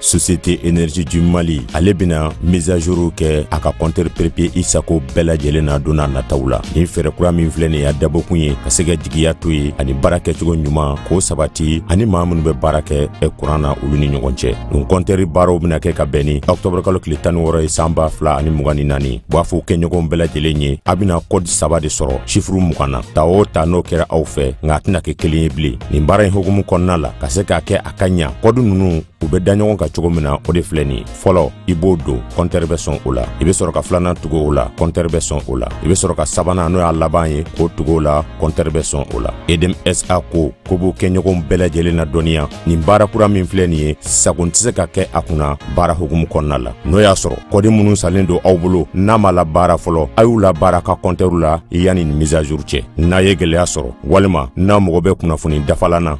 Société Énergie du Mali ale bɛna mise à jour kɛ a ka compteur prépayé Isago bɛɛ lajɛlen na don n'a nataw la nin fɛɛrɛ kura min filɛ nin y'a dabɔkun ye ka se ka jigiya to ye ani baara kɛcogo ɲuman k'o sabati ani maa minnu bɛ baara kɛ kuran na olu ni ɲɔgɔn cɛ nin compteur baaraw bɛna kɛ ka bɛn ni octobre kalo tile tan ni wɔɔrɔ ye san ba fila ani mugan ni naani b'a fɔ u kɛɲɔgɔnw bɛɛ lajɛlen ye a bɛna kɔdi saba de sɔrɔ sifuru mugan na ta o ta n'o kɛra aw fɛ nka a tɛna kɛ kelen ye bilen nin baara in hukumu kɔnɔna la ka se k'a kɛ ka ɲa kɔdi nunu u bɛ da ɲɔgɔn kan cogo min na o de filɛ nin fɔlɔ i b'o don kɔntɛri bɛ sɔn o la i bɛ sɔrɔ ka filanan tugu o la kɔntɛri bɛ sɔn o la i bɛ sɔrɔ ka sabanan n'o y'a laban ye k'o tugu o la kɔntɛri bɛ sɔn o la EDM SA ko k'u b'u kɛɲɔgɔnw bɛɛ lajɛlen ladɔnniya nin baara kura min filɛ nin ye sagon tɛ se ka kɛ a kunna baara hukumu kɔnɔna la n'o y'a sɔrɔ kɔdi minnu sanlen don aw bolo n'a m'a labaara fɔlɔ a y'u labaara ka kɔntɛriw la yanni nin mise à jour cɛ n'a ye gɛlɛya sɔrɔ walima n'a mago bɛ kunnafoni dafalan na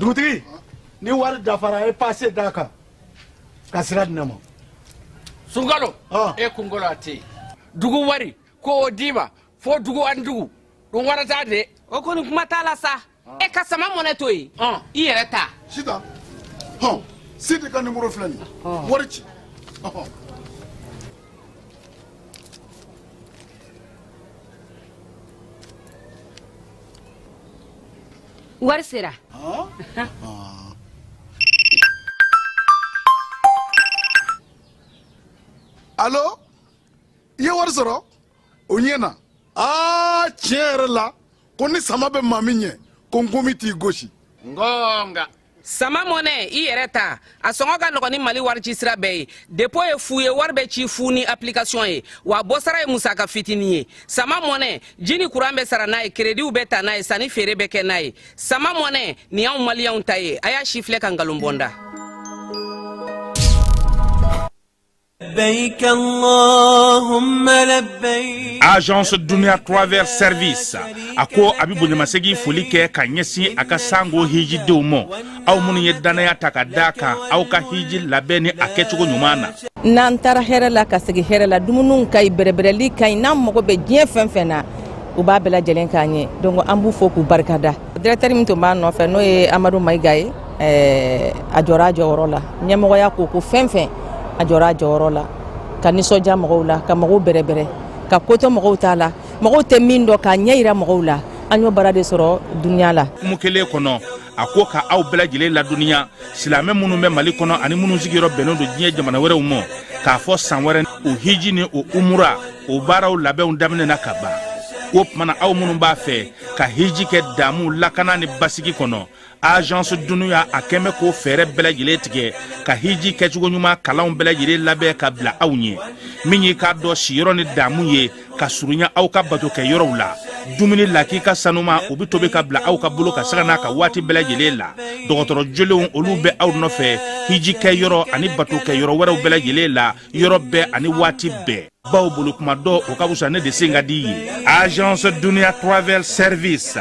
dugutigi ni wari dafara a ye pase d'a kan ka sira di ne ma Sungalo e kunkolo a tɛ yen dugu wari ko o d'i ma fo dugu ani dugu don wɛrɛ t'a de o kɔni kuma t'a la sa e ka sama mɔnɛ to yen i yɛrɛ ta Sita hɔn Sidi ka nimoro filɛ nin wari ci wari sera alo i ye wari sɔrɔ o ɲɛna aa tiɲɛ yɛrɛ la ko ni sama bɛ maa min ɲɛ ko nkomi t'i gosi ngonga sama mɔnɛ i yɛrɛ ta a sɔngɔ ka nɔgɔn ni mali warici sira bɛɛ ye depo ye fu ye wari bɛ ci fu ni application ye wa bɔsara ye musaka fitini ye sama mɔnɛ ji ni kuran bɛ sara n'a ye kerediw bɛ ta n'a ye sanni feere bɛ kɛ n'a ye sama mɔnɛ nin y'anw maliyɛnw ta ye a y'a sifilɛ ka nkalon bɔ n da agence dunia travel service a ko a bɛ bonyamasegin foli kɛ ka ɲɛsin a ka sanko hijidenw ma aw minnu ye dannaya ta ka d'a kan aw ka hiji labɛn ni a kɛcogo ɲuman na n'an taara hɛrɛ la ka segin hɛrɛ la dumuniw ka ɲi bɛrɛbɛrɛli ka ɲi n'an mago bɛ diɲɛ fɛn fɛn na u b'a bɛɛ lajɛlen k'an ye donc an b'u fo k'u barikada directeur min tun b'a nɔfɛ n'o ye Amadu Mayiga ye a jɔra a jɔyɔrɔ la ɲɛmɔgɔya ko ko fɛn fɛn a jɔra a jɔyɔrɔ la ka nisɔndiya mɔgɔw la ka mɔgɔw bɛrɛbɛrɛ ka koto mɔgɔw ta la mɔgɔw tɛ min dɔn k'a ɲɛ jira mɔgɔw la an y'o baara de sɔrɔ dunya la kuma kelen kɔnɔ a ko ka aw bɛɛ lajɛlen ladɔnniya silamɛ minnu bɛ mali kɔnɔ ani minnu sigiyɔrɔ bɛnnen don diɲɛ jamana wɛrɛw ma k'a fɔ san wɛrɛ o hiji ni o umura o baaraw labɛnw daminɛna ka ban o tuma na aw minnu b'a fɛ ka hiji kɛ damu lakana ni basigi kɔnɔ agence dunia a kɛmɛ k'o fɛɛrɛ bɛɛ lajɛlen tigɛ ka hiji kɛcogo ɲuman kalanw bɛɛ lajɛlen labɛn ka bila aw ɲɛ min y'i k'a dɔn siyɔrɔ ni damu ye ka surunya aw ka bato kɛ yɔrɔw la dumuni lakika sanuman u bɛ tobi ka bila aw ka bolo kan sanga n'a ka waati bɛɛ lajɛlen la dɔgɔtɔrɔ jolenw olu bɛ aw nɔfɛ hiji kɛ yɔrɔ ani bato kɛ yɔrɔ wɛrɛw bɛɛ lajɛlen la yɔrɔ bɛɛ ani waati bɛɛ bawo boli kuma dɔn o ka fisa ne de sen ka di ye agence dunia travel service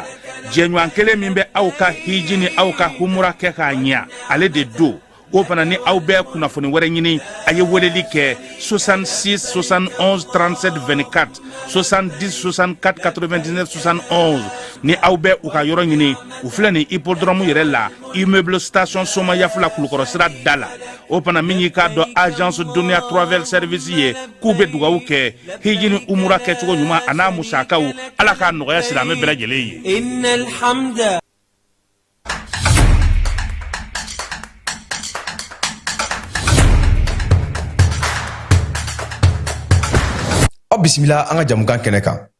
jɛɲɔgɔn kelen min bɛ aw ka hiji ni aw ka humura kɛ k'a ɲɛ ale de don o fana ni aw bɛ kunnafoni wɛrɛ ɲini a ye weleli kɛ 66 71 37 24 70 64 99 71 ni aw bɛ u ka yɔrɔ ɲini u filɛ nin hippodrɔmu yɛrɛ la immeuble station soma yafula kulukɔrɔ sira da la o fana min y'i k'a dɔn agence dunia travel service ye k'u bɛ dugawu kɛ hiji ni umura kɛcogo ɲuman a n'a musakaw ala k'a nɔgɔya silamɛ bɛɛ lajɛlen ye aw bisimila an ka jamukan kɛnɛ kan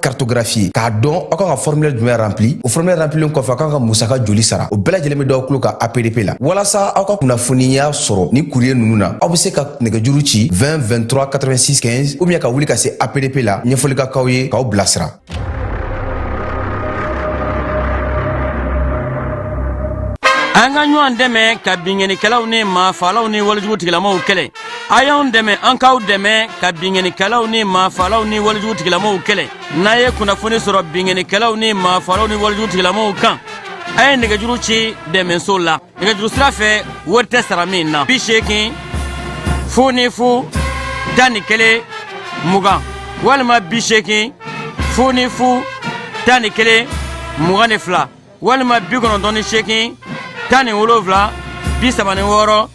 cartographie k'a dɔn aw kan ka formulaire jumɛn rempli o formulaire remplilen kɔfɛ aw kan ka musaka joli sara o bɛɛ lajɛlen bɛ d'aw tulo kan apdp la walasa aw ka kunnafoniya sɔrɔ ni courrier ninnu na aw bɛ se ka nɛgɛjuru ci 20 23 86 15 ou bien ka wuli ka se apdp la ɲɛfɔli ka k'aw ye k'aw bilasira an ka ɲɔgɔn dɛmɛ ka binkannikɛlaw ni maafalaw ni walejugu tigilamaw kɛlɛ a y'anw dɛmɛ an k'aw dɛmɛ ka binkannikɛlaw ni maafalaw ni walejugu tigilamaw kɛlɛ n'a ye kunnafoni sɔrɔ binkannikɛlaw ni maafalaw ni walejugu tigilamaw kan a ye nɛgɛjuru ci dɛmɛso la nɛgɛjuru sira fɛ wari tɛ sara min na bi seegin fu ni fu tan ni kelen mugan walima bi seegin fu ni fu tan ni kelen mugan ni fila walima bi kɔnɔntɔn ni seegin tan ni wolonfila bi saba ni wɔɔrɔ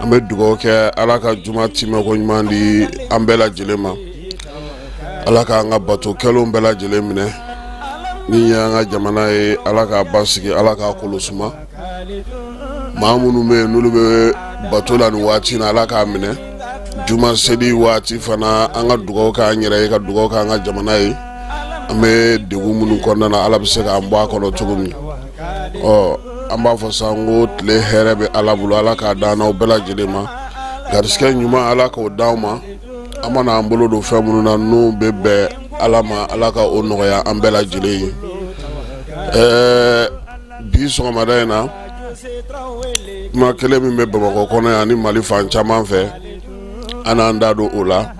an bɛ dugawu kɛ ala ka juma tɛmɛko ɲuman di an bɛɛ lajɛlen ma ala k'an ka bato kɛlen bɛɛ lajɛlen minɛ nin ye an ka jamana ye ala k'a basigi ala k'a kolo suma maa minnu bɛ yen n'olu bɛ bato la nin waati na ala k'a minɛ juma seli waati fana an ka dugawu kɛ an yɛrɛ ye ka dugawu kɛ an ka jamana ye an bɛ dɛgun minnu kɔnɔna ala bɛ se k'an bɔ a kɔnɔ cogo min ɔ an b'a fɔ sa ko tile hɛrɛ bɛ ala bolo ala k'a d'an n'aw bɛɛ lajɛlen ma garisɛgɛ ɲuman ala k'o d'aw ma an mana an bolo don fɛn minnu na n'u bɛ bɛn ala ma ala ka o nɔgɔya an bɛɛ lajɛlen ye ɛɛ bi sɔgɔmada in na kuma kelen min bɛ bamakɔ kɔnɔ yan ni mali fan caman fɛ an n'an da don o la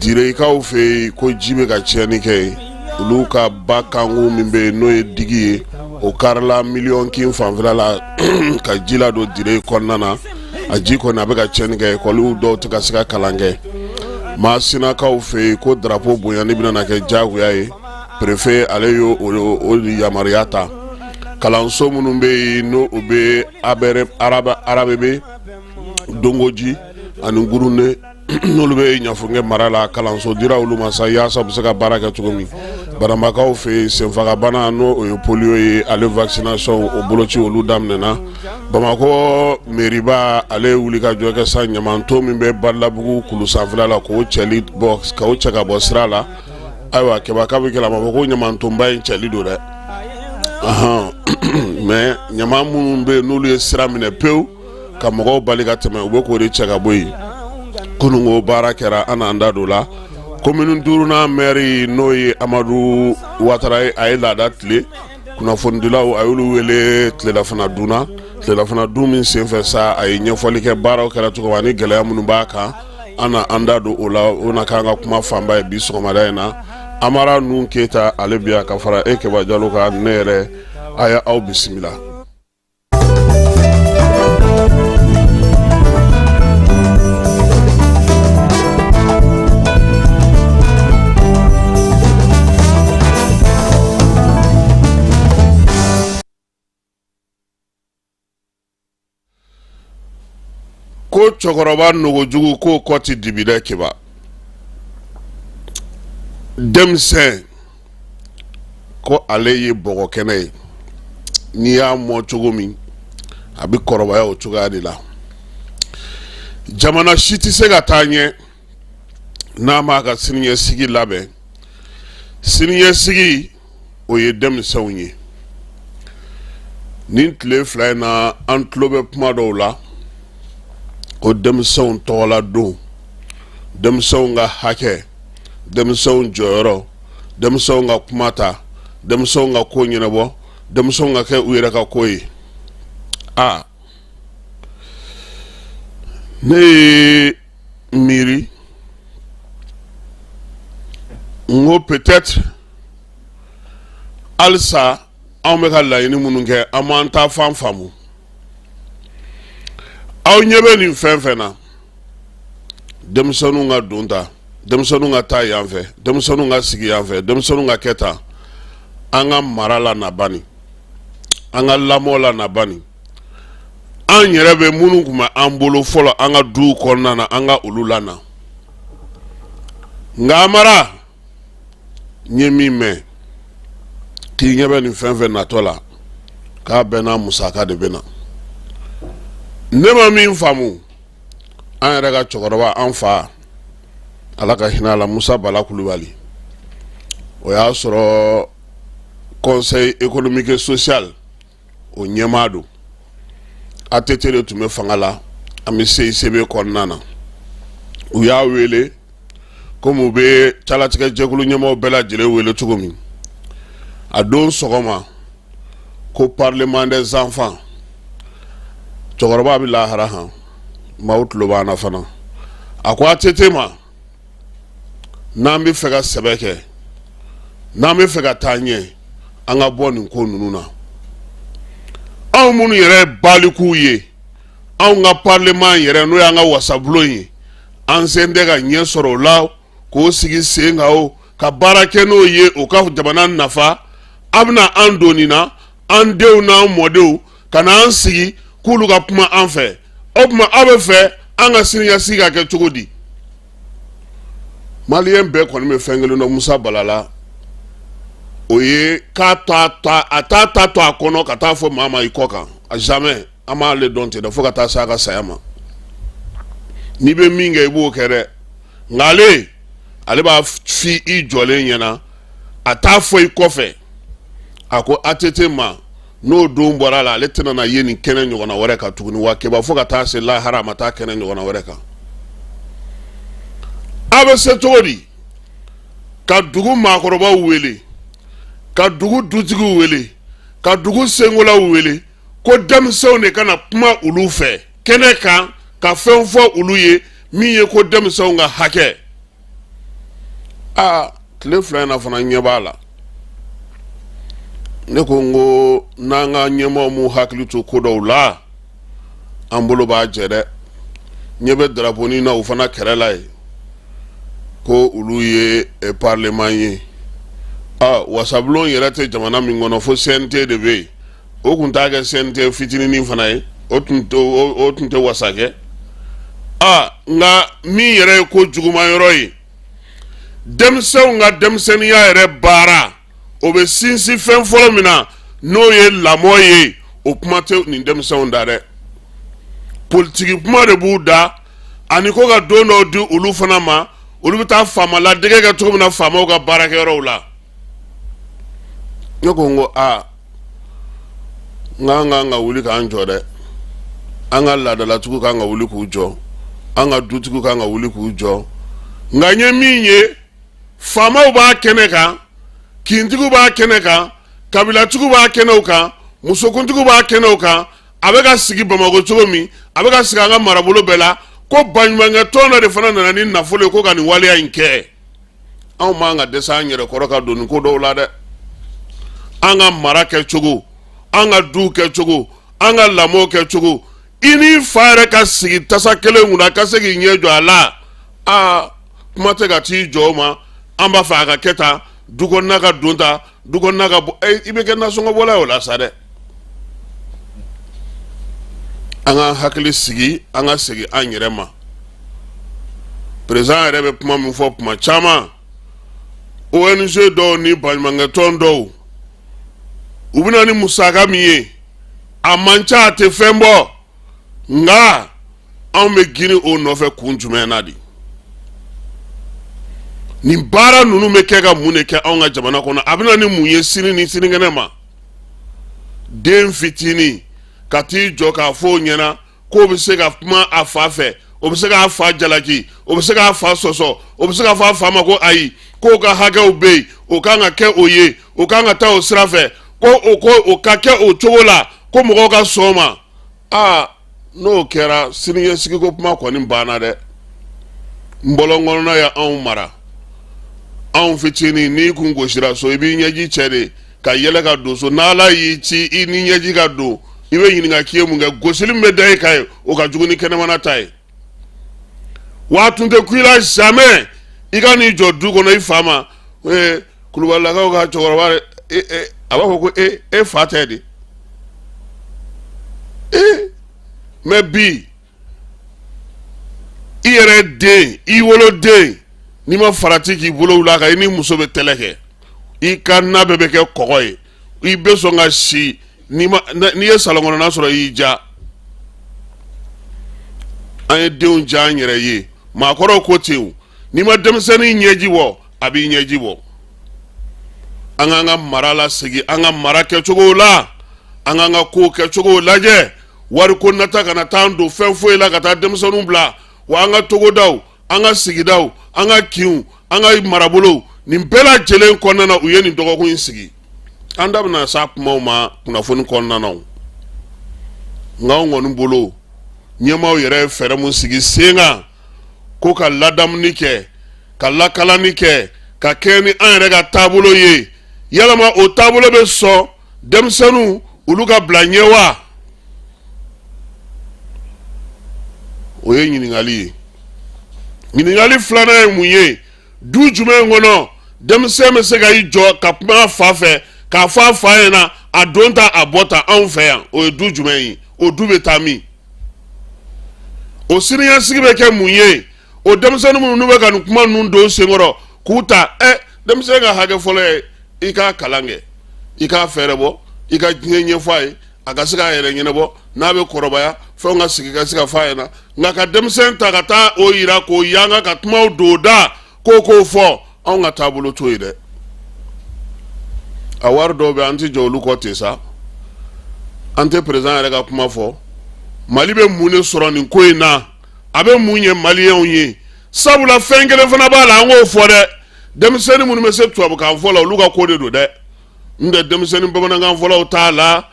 Direkaw fɛ yen ko ji bɛ ka tiɲɛni kɛ ye olu ka ba kankun min bɛ yen n'o ye digi ye o karila miliyɔnkin fanfɛla la ka ji ladon dire kɔnɔna na a ji kɔni a bɛ ka tiɲɛni kɛ ekɔli dɔw tɛ ka se ka kalan kɛ masinakaw fɛ yen ko darapo bonyani bɛna kɛ jagoya ye perefe ale y'o yamaruya ta kalanso minnu bɛ yen n' u bɛ arabebe dongoji ani gurune n'olu bɛ ɲafunke mara la kalanso dira olu ma sa yasa u bɛ se ka baara kɛ cogo min bananbakaw fɛ senfagabana n' o ye polio ye ale vaccination o boloci olu daminɛna bamakɔ mɛriba ale ye wulikajɔ kɛ sa ɲamanton min bɛ badalabugu kulu sanfɛla la k'o cɛli bɔ k'o cɛ ka bɔ sira la ayiwa keba k'a bi kɛ la ma ko ɲamantonba in cɛli don dɛ mɛ ɲaman minnu bɛ yen n'olu ye sira minɛ pewu ka mɔgɔw bali ka tɛmɛ u bɛ k'o de cɛ ka bɔ yen kununko baara kɛra an n'an da don la komini duurunan mɛri n'o ye amadu watara ye a ye laada tilen kunnafonidilaw a y'olu wele tilelafana dunna tilelafana dun min senfɛ sa a ye ɲɛfɔli kɛ baaraw kɛra cogo min ani gɛlɛya minnu b'a kan an na an da don o la o na k'an ka kuma fanba ye bi sɔgɔmada in na amara nun keyita ale bi yan ka fara e kɛba jalo kan ne yɛrɛ a ye aw bisimila ko cɛkɔrɔba nogojugu k'o kɔ tɛ dibi dɛ keba denmisɛn ko ale ye bɔgɔ kɛnɛ ye n'i y'a mɔ cogo min a bɛ kɔrɔbaya o cogoya de la jamana si tɛ se ka taa ɲɛ n'a m'a ka siniɲɛsigi labɛn siniɲɛsigi o ye denmisɛnw ye nin tile fila in na an tulo bɛ kuma dɔw la ko denmisɛnw tɔgɔla don denmisɛnw ka hakɛ denmisɛnw jɔyɔrɔ denmisɛnw ka kuma ta denmisɛnw ka ko ɲɛnabɔ denmisɛnw ka kɛ u yɛrɛ ka ko ye a ne ye miiri n ko peut-être halisa anw bɛ ka laɲini minnu kɛ an m'an ta fan faamu aw ɲɛ bɛ nin fɛn fɛn na denmisɛnw ka don ta denmisɛnw ka taa yan fɛ denmisɛnw ka sigi yan fɛ denmisɛnw ka kɛ tan an ka mara lana bani an ka lamɔ lana bani an yɛrɛ bɛ minnu tun bɛ an bolo fɔlɔ an ka du kɔnɔna na an ka olu lana nka amara n ye min mɛn k'i ɲɛ bɛ nin fɛn fɛn natɔ la k'a bɛɛ n'a musaka de bɛ na ne ma min faamu an yɛrɛ ka cɛkɔrɔba an fa ala ka hinɛ a la musa bala kulubali o y'a sɔrɔ conseil économique et social o ɲɛmaa don ATT de tun bɛ fanga la an bɛ CICB kɔnɔna na u y'a wele komi u bɛ calatigɛ jɛkulu ɲɛmaaw bɛɛ lajɛlen wele cogo min a don sɔgɔma ko parlement des enfants cɛkɔrɔba bɛ lahara han maaw tulo b'an na fana a ko ATT ma n'an bɛ fɛ ka sɛbɛ kɛ n'an bɛ fɛ ka taa ɲɛ an ka bɔ nin ko ninnu na anw minnu yɛrɛ ye balikuw ye anw ka parlement yɛrɛ n'o y'an ka wasabulon ye an sen tɛ ka ɲɛ sɔrɔ o la k'o sigi sen kan o ka baara kɛ n'o ye o ka jamana nafa a bɛna an don nin na an denw n'an mɔdenw ka na an sigi k'olu ka kuma an fɛ o tuma aw bɛ fɛ an ka siniɲɛsigi ka kɛ cogo di maliyɛn bɛɛ kɔni bɛ fɛn kelen dɔn musa bala la o ye k'a t'a ta to a kɔnɔ ka taa fɔ maa ma i kɔ kan a jamais an m'ale dɔn ten dɛ fo ka taa se a ka saya ma n'i bɛ min kɛ i b'o kɛ dɛ nka ale ale b'a f'i jɔlen ɲɛna a t'a fɔ i kɔfɛ a ko ATT ma n'o don bɔra a la ale tɛna na ye nin kɛnɛ ɲɔgɔnna wɛrɛ kan tuguni wa keba fo ka taa se lahara a ma taa kɛnɛ ɲɔgɔnna wɛrɛ kan a bɛ se cogo di ka dugu maakɔrɔbaw wele ka dugu dutigiw wele ka dugu senkolaw wele ko denmisɛnw de ka na kuma olu fɛ kɛnɛ kan ka fɛn fɔ olu ye min ye ko denmisɛnw ka hakɛ aa tile fila in na fana ɲɛ b'a la ne ko n ko n'an ka ɲɛmaaw m'u hakili to ko dɔw la an bolo b'a jɛ dɛ ɲɛ bɛ daraponi na u fana kɛrɛ la ye ko olu ye eh, parlement ye aa wasabulon yɛrɛ tɛ jamana min kɔnɔ fo cnt de bɛ yen o tun t'a kɛ cnt fitinin fana ye o tun tɛ wasa kɛ aa nka min yɛrɛ ye ko juguma yɔrɔ ye denmisɛnw ka denmisɛnninya yɛrɛ baara o bɛ sinsin fɛn fɔlɔ min na n'o ye lamɔ ye o kuma tɛ nin denmisɛnw da dɛ politigi kuma de b'u da ani ko ka don dɔw di olu fana ma olu bɛ taa faama ladege kɛ cogo min na faamaw ka baarakɛyɔrɔw la ne ko n ko aa n k'an kan ka wuli k'an jɔ dɛ an ka laadalatigiw kan ka wuli k'u jɔ an ka dutigiw kan ka wuli k'u jɔ nka n ye min ye faamaw b'a kɛnɛ kan kintigiw b'a kɛnɛ kan kabilatigiw b'a kɛnɛw kan musokuntigiw b'a kɛnɛw kan a bɛ ka sigi bamakɔ cogo min a bɛ ka sigi an ka marabolo bɛɛ la ko baɲumankɛ tɔn dɔ de fana nana ni nafolo ye ko ka nin waleya in kɛ anw man ka dɛsɛ an yɛrɛ kɔrɔ ka don nin ko dɔw la dɛ an ka mara kɛ cogo an ka du kɛ cogo an ka lamɔ kɛ cogo i n'i fa yɛrɛ ka sigi tasa kelen kunna ka se k'i ɲɛ jɔ a la aa kuma tɛ ka t'i jɔ o ma an b'a fɛ a ka kɛ tan du kɔnɔna ka don tan du kɔnɔna ka bɔ i bɛ kɛ nasɔngɔbɔla ye o la sa dɛ an ka hakili sigi an ka segin an yɛrɛ ma président yɛrɛ bɛ kuma min fɔ kuma caman ong dɔw ni baɲumankɛtɔn dɔw u bɛna ni musaka min ye a man ca a tɛ fɛn bɔ nka anw bɛ girin o nɔfɛ kun jumɛn na de nin baara ninnu bɛ kɛ ka mun de kɛ anw ka jamana kɔnɔ a bɛna ni mun ye sini ni sinikɛnɛ ma den fitinin ka t'i jɔ k'a fɔ o ɲɛna k'o bɛ se ka kuma a fa fɛ o bɛ se k'a fa jalaki o bɛ se k'a fa sɔsɔ o bɛ se k'a fɔ a fa ma ko ayi k'o ka hakɛw bɛ yen o kan ka kɛ o ye o kan ka taa o sira fɛ ko o ka kɛ o cogo la ko mɔgɔw ka sɔn o ma aa n'o kɛra siniɲɛsigi ko kuma kɔni banna dɛ n bɔlɔn kɔnɔna ye anw mara anw fitinin n'i kun gosira so i b'i ɲɛji cɛ de ka yɛlɛ ka don so n'ala y'i ci i ni ɲɛji ka don i bɛ ɲininka k'i ye mun kɛ gosili min bɛ da i kan ye o ka jugu ni kɛnɛmana ta ye wa tun tɛ kun i la jamais i ka n'i jɔ du kɔnɔ i fa ma ee kulubalilakaw ka cɛkɔrɔba e, e, a b'a fɔ ko e e fa tɛ de ee mais bi i yɛrɛ den i woloden n'i ma farati k'i bolo wuli a kan i ni muso bɛ kɛlɛ kɛ i ka na bɛɛ bɛ kɛ kɔgɔ ye i bɛ sɔn ka si n'i ye salon kɔnɔna sɔrɔ y'i ja an ye denw ja an yɛrɛ ye maakɔrɔw ko ten n'i ma denmisɛnnin ɲɛji bɔ a b'i ɲɛji bɔ an k'an ka mara lasegin an ka mara kɛcogo la an k'an ka kow kɛcogow lajɛ wariko nata kana taa an don fɛn foyi la ka taa denmisɛnninw bila wa an ka togodaw an ka sigidaw an ka kinw an ka marabolow nin bɛɛ lajɛlen kɔnɔna na u ye nin dɔgɔkun in sigi an da bɛna s'a kumaw ma kunnafoni kɔnɔna na nka anw kɔni bolo ɲɛmaaw yɛrɛ ye fɛɛrɛ mun sigi sen kan ko ka ladamuni kɛ ka lakalani kɛ ka kɛɲɛ ni an yɛrɛ ka taabolo ye yalama o taabolo bɛ sɔn denmisɛnninw olu ka bila ɲɛ wa o ye ɲininkali ye ɲininkali filanan ye mun ye du jumɛn kɔnɔ denmisɛn bɛ se ka i jɔ ka kuma a fa fɛ k'a fɔ a fa ɲɛna a don ta a bɔ ta anw fɛ yan o ye du jumɛn ye o du bɛ taa min o siniɲɛsigi bɛ kɛ mun ye o denmisɛnnin minnu n'u bɛ ka nin kuma ninnu don senkɔrɔ k'u ta ɛ denmisɛn ka hakɛ fɔlɔ ye i k'a kalan kɛ i k'a fɛɛrɛbɔ i ka diɲɛ ɲɛfɔ a ye a ka se k'a yɛrɛ ɲɛnabɔ n'a bɛ kɔrɔbaya fɛnw ka sigi ka se k'a fɔ a ɲɛna nka ka denmisɛn ta ka taa o yira k'o yanga ka kumaw don da ko k'o fɔ anw ka taabolo t'o ye dɛ a wari dɔw bɛ an tɛ jɔ olu kɔ ten sa an tɛ perezidan yɛrɛ ka kuma fɔ mali bɛ mun de sɔrɔ nin ko in na a bɛ mun ɲɛ maliyɛnw ye sabula fɛn kelen fana b'a la an k'o fɔ dɛ denmisɛnnin minnu bɛ se tubabukan fɔ la olu ka ko de don dɛ n tɛ denmisɛnnin bamanankan fɔlaw t'a la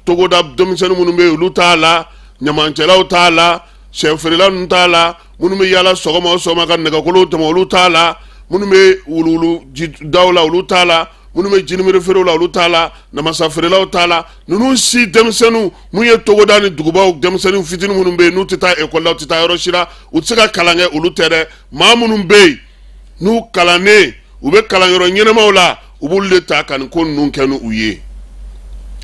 togoda denmisɛnnin minnu bɛ yen olu t'a la ɲamancɛlaw t'a la sɛfeerela ninnu t'a la minnu bɛ yaala sɔgɔma o sɔgɔma ka nɛgɛkolow tɛmɛ olu t'a la minnu bɛ wuluwuluji daw la olu t'a la minnu bɛ jinimere feerew la olu t'a la namasa feerelaw t'a la ninnu si denmisɛnninw minnu ye togoda ni dugubaw denmisɛnnin fitinin minnu bɛ yen n'u tɛ taa ekɔli la u tɛ taa yɔrɔ si la u tɛ se ka kalan kɛ olu tɛ dɛ maa minnu bɛ yen n'u kalannen u bɛ kalanyɔrɔ ɲɛnamaw la u b'olu de ta ka nin ko ninnu kɛ ni u ye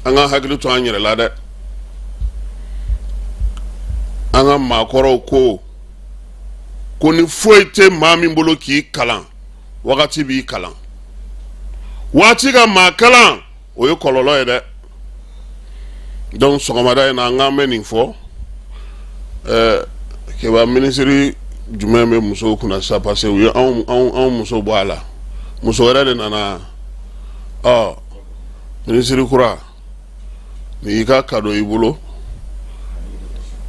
an ka hakili to an yɛrɛ la dɛ an ka maakɔrɔw ko ko ni foyi tɛ maa min bolo k'i kalan wagati b'i kalan waati ka maa kalan o ye kɔlɔlɔ ye dɛ donc sɔgɔmada in na an k'an bɛ nin fɔ ɛɛ kɛba minisiri jumɛn bɛ musow kunna sisan parce que u ye anw anw anw muso bɔ a la muso wɛrɛ de nana ɔ minisiri kura nin y'i ka kado i bolo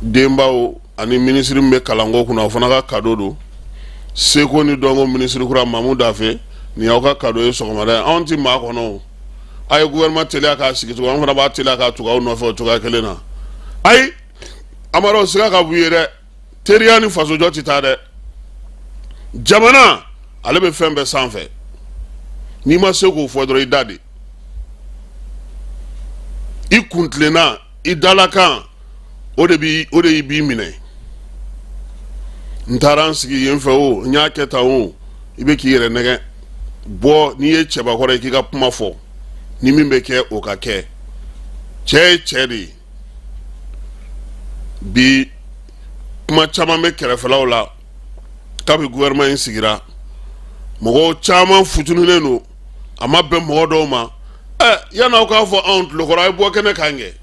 denbaw ani minisiri min bɛ kalanko kunna o fana ka kado don seko ni dɔnko minisiri kura Mamu Dafe ni aw ka kado ye sɔgɔmada anw tɛ maa kɔnɔ a ye gouvernement teliya k'a sigi cogo an fana b'a teliya ka tugu aw nɔfɛ o cogoya kelen na ayi Amaro siga ka b'u ye dɛ teriya ni fasojɔ tɛ taa dɛ jamana ale bɛ fɛn bɛɛ sanfɛ n'i ma se k'o fɔ dɔrɔn i da de i kuntilenna i dalakan o de y'i b'i minɛ n taara n sigi yen fɛ o n y'a kɛ tan o i bɛ k'i yɛrɛ nɛgɛ bɔ n'i ye cɛbakɔrɔ ye k'i ka kuma fɔ ni min bɛ kɛ o ka kɛ cɛ ye cɛ de ye bi kuma caman bɛ kɛrɛfɛlaw la kabi gouvernement in sigira mɔgɔw caman futununen don a ma bɛn mɔgɔ dɔw ma ɛ yan'aw k'a fɔ anw tulokɔrɔ a ye bɔ kɛnɛ kan kɛ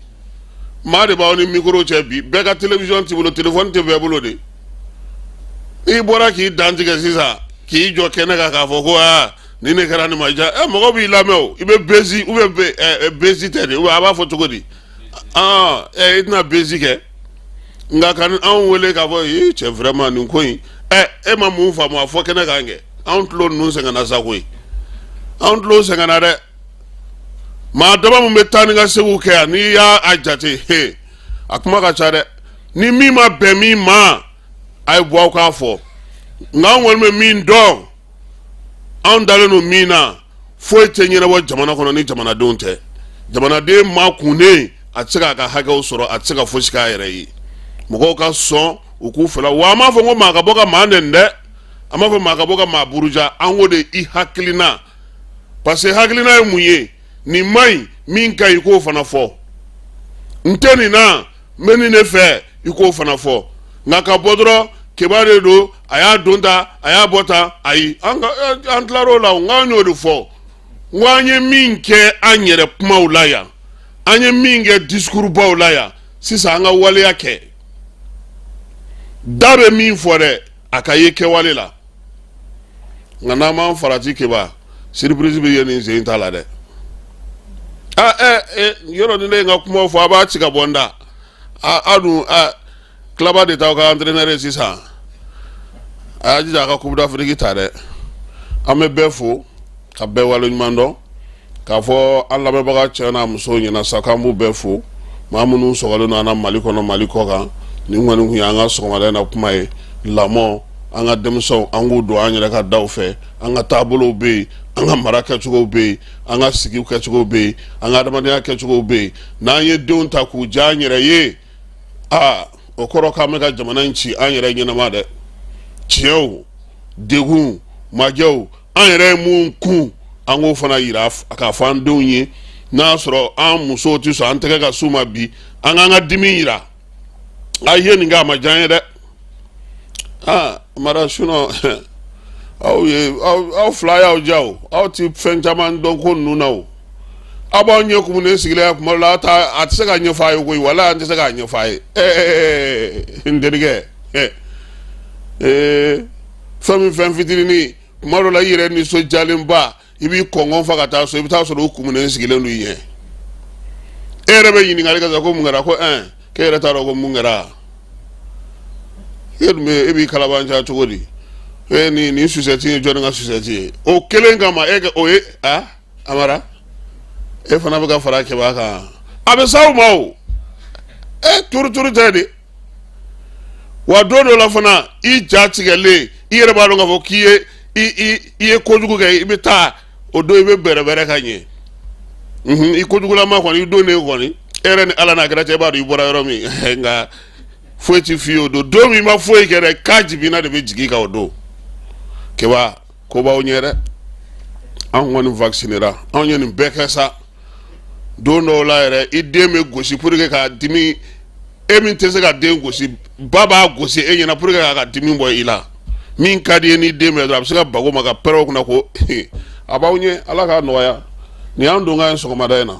maa de b'aw ni mikoro cɛ bi bɛɛ ka television t'i bolo telefɔni tɛ bɛɛ bolo de n'i bɔra k'i dantigɛ sisan k'i jɔ kɛnɛ kan k'a fɔ ko aa nin de kɛra nin ma diya ɛ mɔgɔ b'i lamɛn o i bɛ bezi ou bien ɛ bezi tɛ de a b'a fɔ cogo di aa ɛ i tɛna bezi kɛ nka kan'anw wele k'a fɔ ee cɛ vraiment nin ko in ɛ e ma mun faamu a fɔ kɛnɛ kan kɛ anw tulo ninnu sɛgɛnna sa koyi anw tulo sɛgɛnna dɛ maa dama min bɛ taa ni ka seginw kɛ yan n'i y'a jate he a kuma ka ca dɛ ni min ma bɛn min ma a ye bɔ aw k'a fɔ nka an kɔni bɛ min dɔn anw dalen don min na foyi tɛ ɲɛnabɔ jamana kɔnɔ ni jamanadenw tɛ jamanaden ma kunun a tɛ se k'a ka hakɛw sɔrɔ a tɛ se ka fosi k'a yɛrɛ ye mɔgɔw ka sɔn u k'u fɛla wa an m'a fɔ ko maa ka bɔ ka maa nɛni dɛ an m'a fɔ maa ka bɔ ka maa buruja an ko de i hakilina parce que hakilina ye mun ye nin man ɲi min ka ɲi i k'o fana fɔ n tɛ nin na n bɛ nin de fɛ i k'o fana fɔ nka ka bɔ dɔrɔn keba de don a y'a don tan a y'a bɔ tan ayi an an tilar'o la n k'an y'o de fɔ n ko an ye min kɛ an yɛrɛ kumaw la yan an ye min kɛ discours baw la yan sisan an ka waleya kɛ da bɛ min fɔ dɛ a ka ye kɛwale la nka n'an m'an farati keba surprise bɛ ye nin sen t'a la dɛ aa ɛ yɔrɔ ni ne ye n ka kumaw fɔ a b'a ci ka bɔ n da a dun tilaba de t'aw ka antrenɛri ye sisan a y'a jija a ka coupe d'Afrique ta dɛ an bɛ bɛɛ fo ka bɛɛ wale ɲuman dɔn k'a fɔ an lamɛnbaga cɛ n'a musow ɲɛna sa k'an b'u bɛɛ fo maa minnu sɔgɔlen don an na mali kɔnɔ mali kɔ kan nin kɔni kun ye an ka sɔgɔmada in na kuma ye lamɔ an ka denmisɛnw an k'u don an yɛrɛ ka daw fɛ an ka taabolow bɛ yen an ka mara kɛcogo bɛ yen an ka sigi kɛcogo bɛ yen an ka adamadenya kɛcogo bɛ yen n'an ye denw ta k'u diya an yɛrɛ ye aa o kɔrɔ k'an bɛ ka jamana in ci an yɛrɛ ɲɛnama dɛ tiɲɛw degun majɛw an yɛrɛ ye mun kun an k'o fana yira k'a fɔ an denw ye n'a y'a sɔrɔ an musow tɛ sɔn an tɛgɛ ka s'u ma bi an k'an ka dimi yira a ye nin kɛ a ma diya an ye dɛ amara sinon aw ye aw fila y'aw ja o aw ti fɛn caman dɔn ko ninnu na o aw b'aw ɲɛ kumunen sigilen ya kuma dɔ la aw ta a tɛ se k'a ɲɛfɔ a ye koyi wala an tɛ se k'a ɲɛfɔ a ye ɛɛ n terikɛ ɛɛ. fɛn min fɛn fitininini kuma dɔ la i yɛrɛ nisɔndiyalenba i b'i kɔgɔ fa ka taa so i bɛ taa sɔrɔ u kumunen sigilen don i ɲɛ e yɛrɛ bɛ ɲininkali kɛ sa ko mun kɛra ko ɛn k'e yɛrɛ t'a dɔn ko mun kɛra e dun bɛ e b'i kalabaanciya cogo di e ni nin susɛti ye jɔnni ka susɛti ye o kelen kama e ka o ye a amara e fana bɛ ka fara kɛbaa kan a bɛ s'aw ma o e turuturu tɛ de wa don dɔ la fana i ja tigɛlen i yɛrɛ b'a dɔn k'a fɔ k'i ye i ye kojugu kɛ i bɛ taa o don i bɛ bɛrɛbɛrɛ ka ɲɛ i kojugulama kɔni i don de kɔni e yɛrɛ ni ala n'a kɛra cɛ b'a dɔn i bɔra yɔrɔ min nka foyi ti f'i ye o don don min ma foyi kɛ dɛ k'a jiginna de bɛ jigin ka o don kɛba ko b'aw ɲɛ dɛ an kɔni vaccinera anw ye nin bɛɛ kɛ sa don dɔw la yɛrɛ i den bɛ gosi pour que k'a dimi e min tɛ se ka den gosi ba b'a gosi e ɲɛna pour que k'a ka dimi bɔ i la min ka d'i ye n'i den bɛ dɔrɔn a bɛ se ka bag'o ma ka pɛrɛn o kunna ko a b'aw ɲɛ ala k'a nɔgɔya nin y'an donkan ye sɔgɔmada in na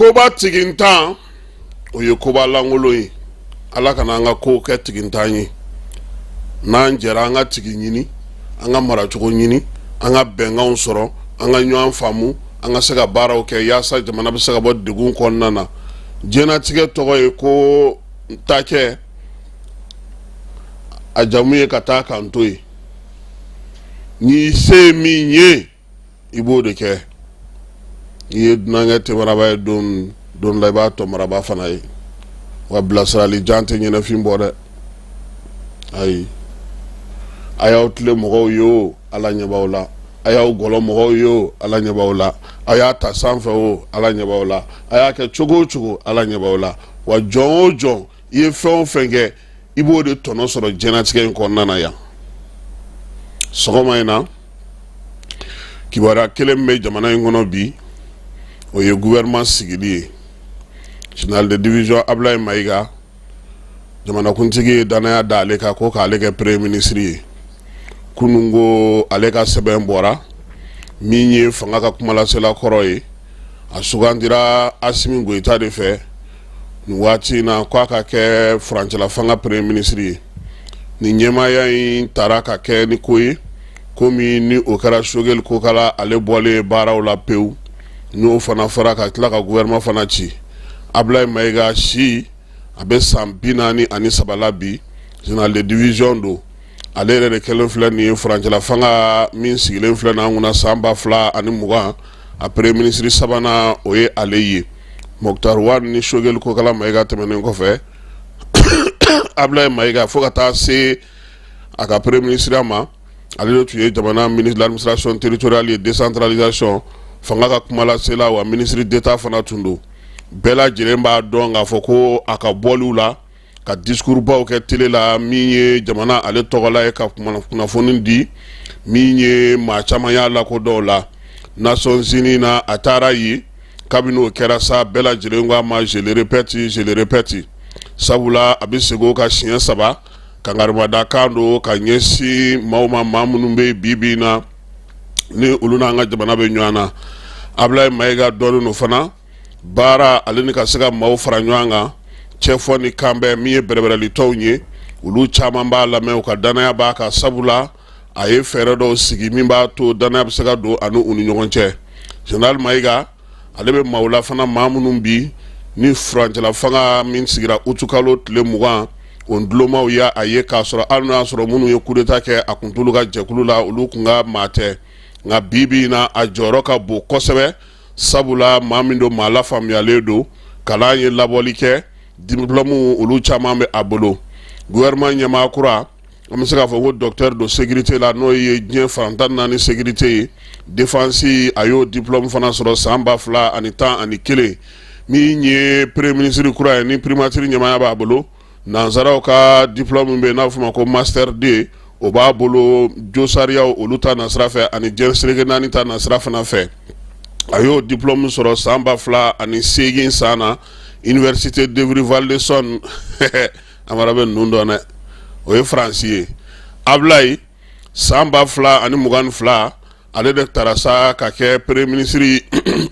koba tigintan o ye koba lankolon ye ala kana an ka kow kɛ tigintan ye n'an jɛra an ka tigi ɲini an ka maracogo ɲini an ka bɛnkanw sɔrɔ an ka ɲɔgɔn faamu an ka se ka baaraw kɛ yaasa jamana bɛ se ka bɔ degun kɔnɔna na diɲɛnatigɛ tɔgɔ ye ko ta kɛ a jamu ye ka taa k'an to yen i se min ye i b'o de kɛ i ye dunankɛ tɛmaraba ye don dɔ la i b'a tɔ maraba fana ye wa bilasirali jan tɛ ɲɛnafin bɔ dɛ ayi a y'aw tilen mɔgɔw ye o ala ɲɛ b'aw la a y'aw gɔlɔn mɔgɔw ye o ala ɲɛ b'aw la a y'a ta sanfɛ o ala ɲɛ b'aw la a y'a kɛ cogo o cogo ala ɲɛ b'aw la wa jɔn o jɔn i ye fɛn o fɛn kɛ i b'o de tɔnɔ sɔrɔ jɛnatigɛ in kɔnɔna na yan sɔgɔma in na kibaruya kelen bɛ jamana in kɔnɔ bi o ye gouvernement sigili ye général de division ablaye mayiga jamanakuntigi ye danaya da ale kan ko k'ale kɛ premier ministre ye kunun ko ale ka sɛbɛn bɔra min ye fanga ka kumalasela kɔrɔ ye a sugandira asimi goyita de fɛ waati in na k'a ka kɛ furancɛla fanga premier ministre ye ni ɲɛmaaya in taara ka kɛ ni ko ye komi ni o kɛra sogɛli kokala ale bɔlen ye baaraw la pewu n'o fana fara ka tila ka gouvernement fana ci ablaye mayiga si a bɛ san bi naani ani saba la bi général de division don ale yɛrɛ de kɛlen filɛ nin ye furancɛla fanga min sigilen filɛ n'an kunna san ba fila ani mugan a premier ministre sabanan o ye ale ye moktar wan ni sogɛli kokala mayiga tɛmɛnen kɔfɛ ablaye mayiga fo ka taa se a ka premier ministreya ma ale de tun ye jamana ministre de l'administration territoriale et décentralisation fanga ka kumalasela wa ministre d'état fana tun don bɛɛ lajɛlen b'a dɔn k'a fɔ ko a ka bɔliw la ka discours baw kɛ télé la min ye jamana ale tɔgɔla ye ka kunnafoni di min ye maa caman y'a lakodɔn la nations unies na a taara yen kabini o kɛra sa bɛɛ lajɛlen ko a ma je le répète je le répète sabula a bɛ segin o kan siɲɛ saba kangarimadakan don ka ɲɛsin maaw ma maa minnu bɛ bibi na ni olu n'an ka jamana bɛ ɲɔgɔn na ablaye mayiga dɔnnen don fana baara ale ni ka se ka maaw fara ɲɔgɔn kan cɛfɔ ni kanbɛn min ye bɛrɛbɛrɛli tɔnw ye olu caman b'a lamɛn u ka danaya b'a kan sabula a ye fɛɛrɛ dɔw sigi min b'a to danaya bɛ se ka don ani u ni ɲɔgɔn cɛ général mayiga ale bɛ maaw la fana maa minnu bi ni furancɛla fanga min sigira utukalo tile mugan o dulonmaw y'a ye k'a sɔrɔ hali n'o y'a sɔrɔ minnu ye coup d'état kɛ a tun t'olu ka jɛkulu la olu tun ka maa tɛ nka bibi na a jɔyɔrɔ ka bon kosɛbɛ sabula maa min don maa lafaamuyalen don kalan ye labɔli kɛ diplôme olu caman bɛ a bolo gouvernement ɲɛmaa kura an bɛ se k'a fɔ ko docteur don sécurité la n'o ye diɲɛ fan tan naani sécurité et défense a y'o diplôme fana sɔrɔ san ba fila ani tan ani kelen min ye premier ministre kura ye ni primature ɲɛmaaya b'a bolo nansaraw ka diplôme min bɛ yen n'a bɛ fɔ a ma ko master deux o b'a bolo josariyaw olu ta nasira fɛ ani jɛn seleke naani ta nasira fana fɛ a y'o diplôme sɔrɔ san ba fila ani segin san na université d'évry val d'essonne amara bɛ ninnu dɔn dɛ o ye faransi ye ablaye san ba fila ani mugan fila ale de taara sa ka kɛ peremiye minisiri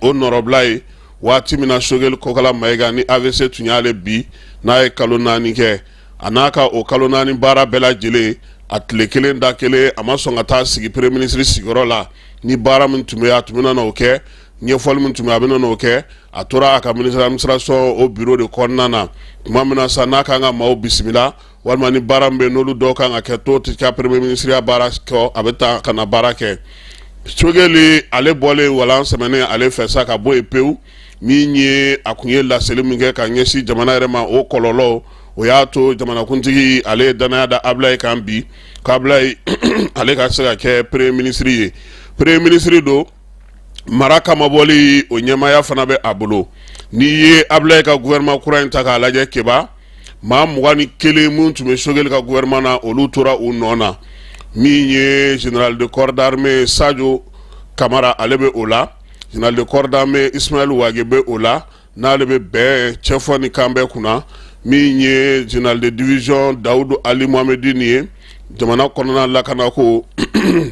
o nɔrɔbila ye waati min na sogɛli kokala mayiga ni AVC tun y'ale bin n'a ye kalo naani kɛ a n'a ka o kalo naani baara bɛɛ lajɛlen a tile kelen da kelen a ma sɔn ka taa sigi peremiye minisiri sigiyɔrɔ la ni baara min tun bɛ a tun bɛna n'o kɛ ɲɛfɔli min tun bɛ a bɛna n'o kɛ a tora a ka minisiri d'administration o biro de kɔnɔna na tuma min na sa n'a ka kan ka maaw bisimila walima ni baara bɛ n'olu dɔw kan ka kɛ to tɛ ka peremiye minisiriya baara kɛ a bɛ taa ka na baara kɛ sogɛli ale bɔlen walan sɛen ale fɛ sa ka bɔ yen pewu min ye a kun ye laseli min kɛ ka ɲɛsin jamana yɛrɛ ma o kɔlɔlɔ o y'a to jamanakuntigi ale ye dannaya da abulayi kan bi k'abulayi ale ka se ka kɛ peremiye minisiri ye peremiye minisiri don mara kama bɔli o ɲɛmaaya fana bɛ a bolo n'i ye abulayi ka gouvernement kura in ta k'a lajɛ keba maa mugan ni kelen minnu tun bɛ sogɛli ka gouvernement na olu tora u nɔ na min ye général de corps d'armée sajo kamara ale bɛ o la général de corps d'armée isimayili wage bɛ o la n'ale bɛ bɛn cɛfɔ ni kanbɛn kunna min ye général de division dawudu ali mohamedine ye jamana kɔnɔna lakana ko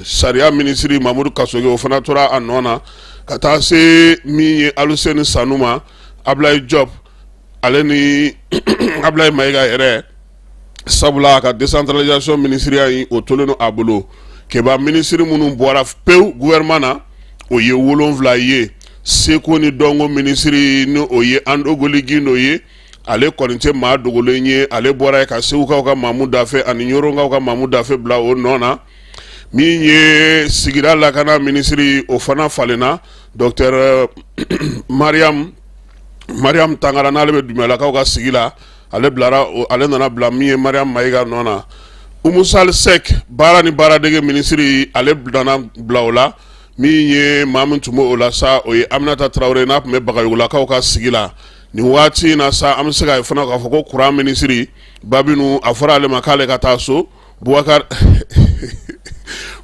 sariya minisiri mamudu kasoge o fana tora a nɔ na ka taa se min ye aluseni sanu ma abulayi jɔp ale ni abulayi mayiga yɛrɛ sabula a ka décentralisation minisiriya in o tolen don a bolo keba minisiri minnu bɔra pewu gouvernement na o ye wolonwula ye seko ni dɔnko minisiri ni o ye andogoli gindo ye ale kɔni tɛ maa dogolen ye ale bɔra yen ka segukaw ka maamu dafe ani ɲoronkaw ka maamu dafe bila o nɔ na min ye sigida lakana minisiri o fana falenna docteur mariam mariam tangara n'ale bɛ dumbiyalakaw ka sigi la ale nana bila min ye mariam mayiga nɔ na umu sali sɛk baara ni baaradege minisiri ale nana bila o la min ye maa min tun bɛ o la sa o ye aminata tarawele n'a tun bɛ bagayogolakaw ka sigi la nin waati in na sa an bɛ se ka fana k'a fɔ ko kuran minisiri ba bintu a fɔra ale ma k'ale ka taa so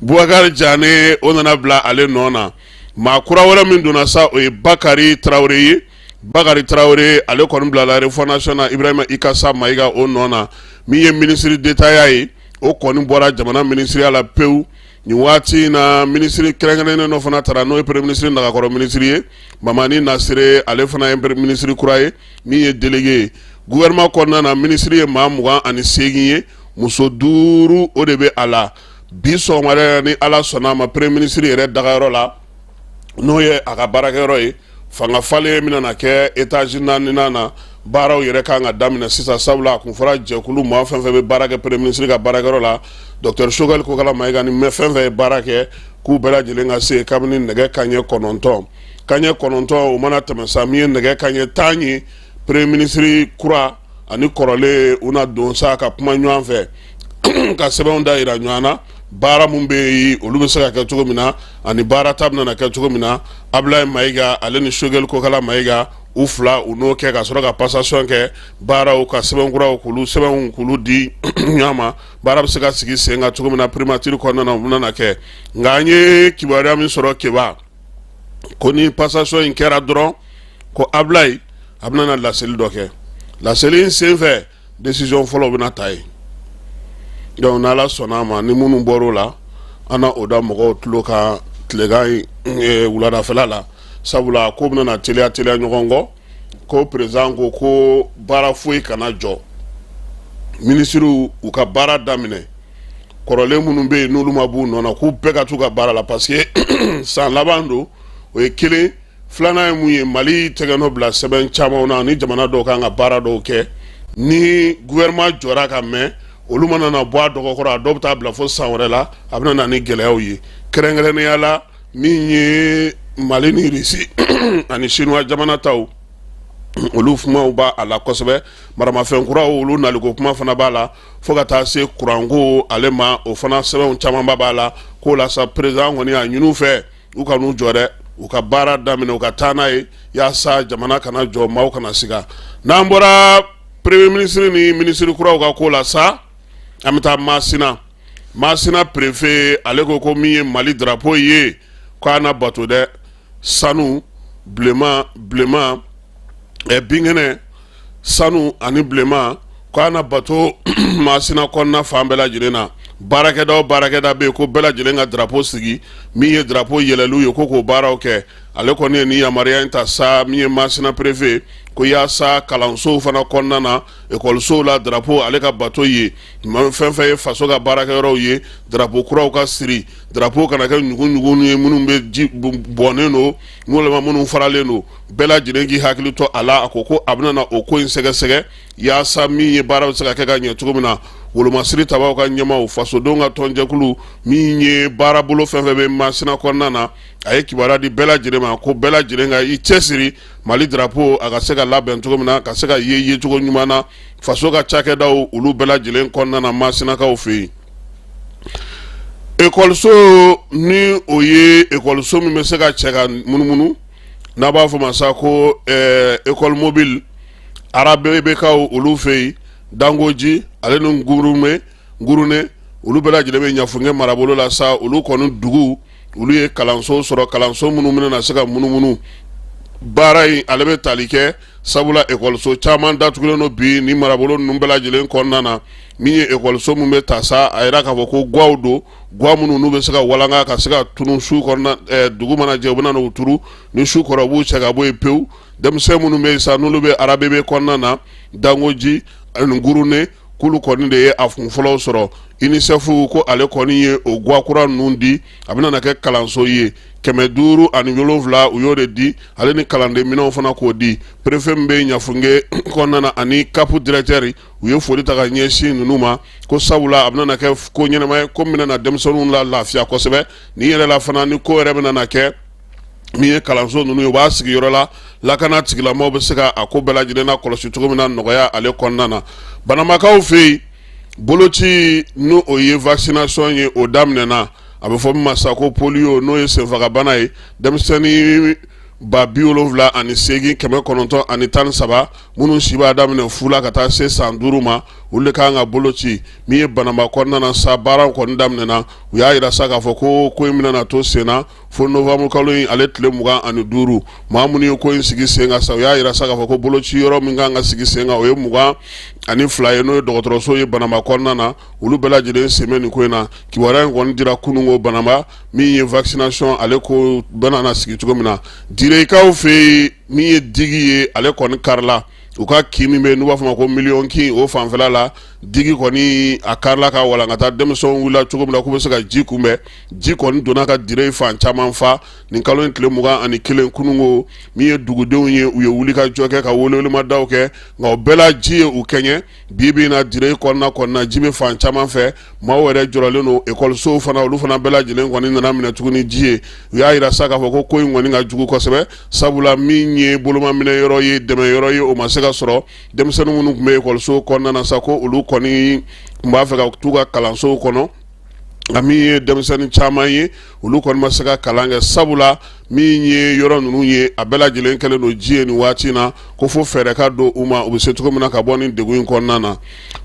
Bubakari jane o nana bila ale nɔ na maa kura wɛrɛ min donna sa o ye bakari tarawele ye bakari tarawele ale kɔni bilala refondation na ibrahima ikasa mayiga o nɔ na min ye minisiri detaya ye o kɔni bɔra jamana minisiriya la pewu nin waati in na minisiri kɛrɛnkɛrɛnnen dɔ fana tara n'o ye peremiye minisiri nagakɔrɔ minisiri ye mamani nasire ale fana ye minisiri kura ye min ye delege ye gouvernement kɔnɔna na minisiri ye maa mugan ani seegin ye muso duuru o de bɛ a la bi sɔgɔmada ni ala sɔnna a ma premier ministre yɛrɛ dagayɔrɔ la n'o ye a ka baarakɛyɔrɔ ye fangafalen bɛna kɛ étage naani na baaraw yɛrɛ kan ka daminɛ sisan sabula a kun fɔra jɛkulu maa fɛn fɛn bɛ baara kɛ premier ministre ka baarakɛyɔrɔ la docteur choguel kokalla maïga ni maa fɛn fɛn ye baara kɛ k'u bɛɛ lajɛlen ka se kabini nɛgɛ kanɲɛ kɔnɔntɔn Kanɲɛ kɔnɔntɔn o mana tɛmɛ sa min ye nɛgɛ kanɲɛ tan ye premier ministre kura ani kɔrɔlen u na don sa ka kuma ɲɔgɔn fɛ ka sɛbɛnw da yira ɲɔgɔn na baara minnu bɛ yen olu bɛ se ka kɛ cogo min na ani baara ta bɛna kɛ cogo min na ablayi maïga ale ni choguel kokalla maïga u fila u n'o kɛ ka sɔrɔ ka passation kɛ baaraw ka sɛbɛn kuraw k'olu sɛbɛnw k'olu di ɲɔgɔn ma baara bɛ se ka sigi sen kan cogo min na primature kɔnɔna na u bɛna kɛ nka an ye kibaruya min sɔrɔ keba ko ni passation in kɛra dɔrɔn ko ablayi a bɛna laseli dɔ kɛ laseli in senfɛ décision fɔlɔw bɛna ta yen donc n'ala sɔnna a ma ni minnu bɔr'o la an na o da mɔgɔw tulo kan tilegan wuladafɛla la sabula ko bɛna teliya teliya ɲɔgɔn kɔ ko président ko ko baara foyi kana jɔ minisiriw u ka baara daminɛ kɔrɔlen minnu bɛ yen n'olu ma b'u nɔ na k'u bɛɛ ka t'u ka baara la parce que san laban don o ye kelen filanan ye mun ye mali tɛgɛnɔ bila sɛbɛn camanw na ni jamana dɔw kan ka baara dɔw kɛ ni gouvernement jɔra ka mɛn olu mana na bɔ a dɔgɔkɔrɔ a dɔw bɛ taa bila fo san wɛrɛ la a bɛna na ni gɛlɛyaw ye kɛrɛnkɛrɛnnenya la min ye mali ni irisi ani sinuwa jamana taw olu kumaw b'a la kosɛbɛ maramafɛn kuraw olu naliko kuma fana b'a la fo ka taa se kuranko ale ma o fana sɛbɛnw camanba b'a la k'o la sa président kɔni a ɲin'u fɛ u kan'u jɔ dɛ u ka baara daminɛ u ka taa n'a ye yaasa jamana kana jɔ maaw kana siga n'an bɔra premier ministre ni minisiri kuraw ka ko la sa an bɛ taa masina masina prefe ale ko ko min ye mali drapo ye ko a na bato dɛ sanu bilenman bilenman ɛ binkɛnɛ sanu ani bilenman ko a na bato masina kɔnɔna fan bɛɛ lajɛlen na baarakɛda o baarakɛda bɛ yen ko bɛɛ lajɛlen ka drapo sigi min ye drapo yɛlɛliw ye ko k'o baaraw kɛ ale kɔni ye nin yamaruya in ta sa min ye masina prefe ko yaasa kalansow fana kɔnɔna na ekɔlisow la drapo ale ka bato yen fɛn fɛn ye faso ka baarakɛyɔrɔw ye drapo kuraw ka siri drapo kana kɛ ɲugunɲugun ye minnu bɛ ji bɔnnen don walima minnu faralen don bɛɛ lajɛlen k'i hakili to a la a ko ko a bɛna na o ko in sɛgɛsɛgɛ yaasa min ye baara bɛ se ka kɛ ka ɲɛ cogo min na wolomasiri tabaw ka ɲɛmaaw fasodenw ka tɔnjɛkulu min ye baarabolo fɛn fɛn bɛ masina kɔnɔna na a ye kibaruya di bɛɛ lajɛlen ma ko bɛɛ lajɛlen ka i cɛsiri mali drapo a ka se ka labɛn cogo min na ka se ka ye yecogo ɲuman na faso ka cakɛda olu bɛɛ lajɛlen kɔnɔna na masinakaw fɛ yen ekɔliso ni o ye ekɔliso min bɛ se ka cɛ ka munumunu n'a b'a fɔ ma sa ko école mobile arabebekaw olu fɛ yen dangoji ale ni gurune gurune olu bɛɛ lajɛlen bɛ ɲafunge marabolo la sa olu kɔni dugu olu ye kalanso sɔrɔ kalanso minnu bɛna na se ka munumunu baara in ale bɛ tali kɛ sabula ekɔliso caman datugulen don bi ni marabolo ninnu bɛɛ lajɛlen kɔnɔna na min ye ekɔliso min bɛ ta sa a yira k'a fɔ ko guwaw don guwa minnu n'u bɛ se ka walanka ka se ka tunu su kɔnɔna eh, dugu mana jɛ u bɛna n'u turu ni su kora u b'u cɛ ka bɔ yen pewu denmisɛn minnu bɛ yen sa n'olu bɛ arabebe kɔnɔna na dangoji ani gurune k'olu kɔni de ye a kun fɔlɔw sɔrɔ unicef ko ale kɔni ye o guwa kura ninnu di a bɛna na kɛ kalanso ye kɛmɛ duuru ani wolonwula u y'o de di ale ni kalanden minɛnw fana k'o di perefe min bɛ ɲafunge kɔnɔna na ani kapu dirɛtɛri u ye foli ta ka ɲɛsin ninnu ma ko sabula a bɛna na kɛ ko ɲɛnama ye ko min bɛna na denmisɛnninw la lafiya kosɛbɛ ni yɛrɛ la fana ni ko yɛrɛ bɛna na kɛ min ye kalanso ninnu ye u b'a sigiyɔrɔ la lakana tigilamaaw bɛ se ka a ko bɛɛ lajɛlen na kɔlɔsi cogo min na nɔgɔya ale kɔnɔna na banamakaw fɛ yen boloci n'o o ye vaccination ye o daminɛna a bɛ fɔ min ma sa ko polio n'o ye senfagabana ye denmisɛnnin ba bi wolonwula ani seegin kɛmɛ kɔnɔntɔn ani tan ni saba minnu si b'a daminɛ fu la ka taa se san duuru ma olu de kan ka boloci min ye banama kɔnɔna na sa baaraw kɔni daminɛna u y'a jira sa k'a fɔ ko ko in bɛna to sen na fo novembre kalo in ale tile mugan ani duuru maa minnu ye ko in sigi sen kan sa u y'a jira sa k'a fɔ ko boloci yɔrɔ min kan ka sigi sen kan o ye mugan ani fila ye n'o ye dɔgɔtɔrɔso ye banama kɔnɔna na olu bɛɛ lajɛlen sen bɛ nin ko in na kibaruya in kɔni dira kununko banama min ye vaccination ale ko bɛna na sigi cogo min na direkaw fɛ yen min ye digi ye ale kɔni karila u ka kin min bɛ n'u b'a fɔ ma ko miliyɔn kin o fanfɛla la digi kɔni a karila ka walankata denmisɛnw wulila cogo min na k'u bɛ se ka ji kunbɛn ji kɔni donna ka dire in fan caman fa nin kalo in tile mugan ani kelen kununko min ye dugudenw ye u ye wuli ka jɔ kɛ ka welewelemadaw kɛ nka o bɛɛ la ji ye u kɛɲɛ bi bi na dire in kɔnɔna kɔnɔna ji bɛ fan caman fɛ maaw yɛrɛ jɔrɔlen don ekɔlisow fana olu fana bɛɛ lajɛlen kɔni nana minɛ tuguni ji ye u y'a jira sa k'a fɔ ko ko in kɔni ka jugu kosɛbɛ sabula min ye bolomaminɛ yɔrɔ ye dɛmɛ yɔrɔ ye o ma se ka sɔrɔ denmisɛnnin minnu tun bɛ ekɔliso kɔnɔna na sa ko olu kɔni tun b'a fɛ ka t'u ka kalansow kɔnɔ nka min ye denmisɛnnin caman ye olu kɔni ma se ka kalan kɛ sabu la min ye yɔrɔ ninnu ye a bɛɛ lajɛlen kɛlen don ji ye nin waati na ko fo fɛɛrɛ ka don u ma u bɛ se cogo min na ka bɔ nin degun in kɔnɔna na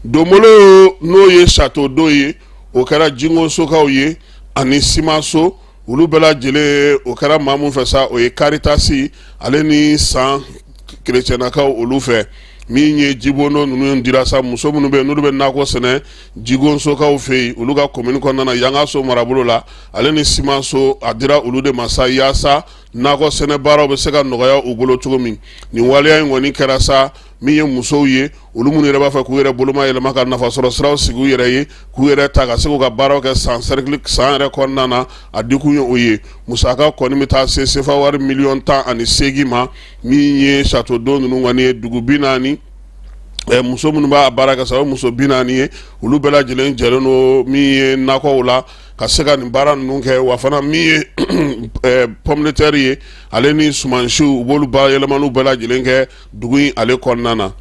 donbolo n'o ye château d'eau ye o kɛra jingosokaw ye ani simanso olu bɛɛ lajɛlen o kɛra maa mun fɛ sa o ye karitasi ale ni san kerecɛnakaw olu fɛ min ye jibondo ninnu dira sa muso minnu bɛ yen n'olu bɛ nakɔ sɛnɛ jigosokaw fɛ yen olu ka komini kɔnɔna yangaso marabolo la ale ni simanso a dira olu de ma sa yaasa nakɔ sɛnɛ baaraw bɛ se ka nɔgɔya u bolo cogo min nin waleya in kɔni kɛra sa min ye musow ye olu minnu yɛrɛ b'a fɛ k'u yɛrɛ boloma yɛlɛma ka nafasɔrɔ siraw sigi u yɛrɛ ye k'u yɛrɛ ta ka se k'u ka baaraw kɛ san san yɛrɛ kɔnɔna na a dikun ye o ye musaka kɔni bɛ taa se sefa wari miliyɔn tan ani segin ma min ye château d'eau ninnu kɔni ye dugu bi naani muso minnu b'a baara kɛ sa o muso bi naani ye olu bɛɛ lajɛlen jɛlen don min ye nakɔw la ka se ka nin baara ninnu kɛ wa fana min ye pomme de terre ye ale ni sumansiw u b'olu bayɛlɛmaniw bɛɛ lajɛlen kɛ dugu in ale kɔnɔna na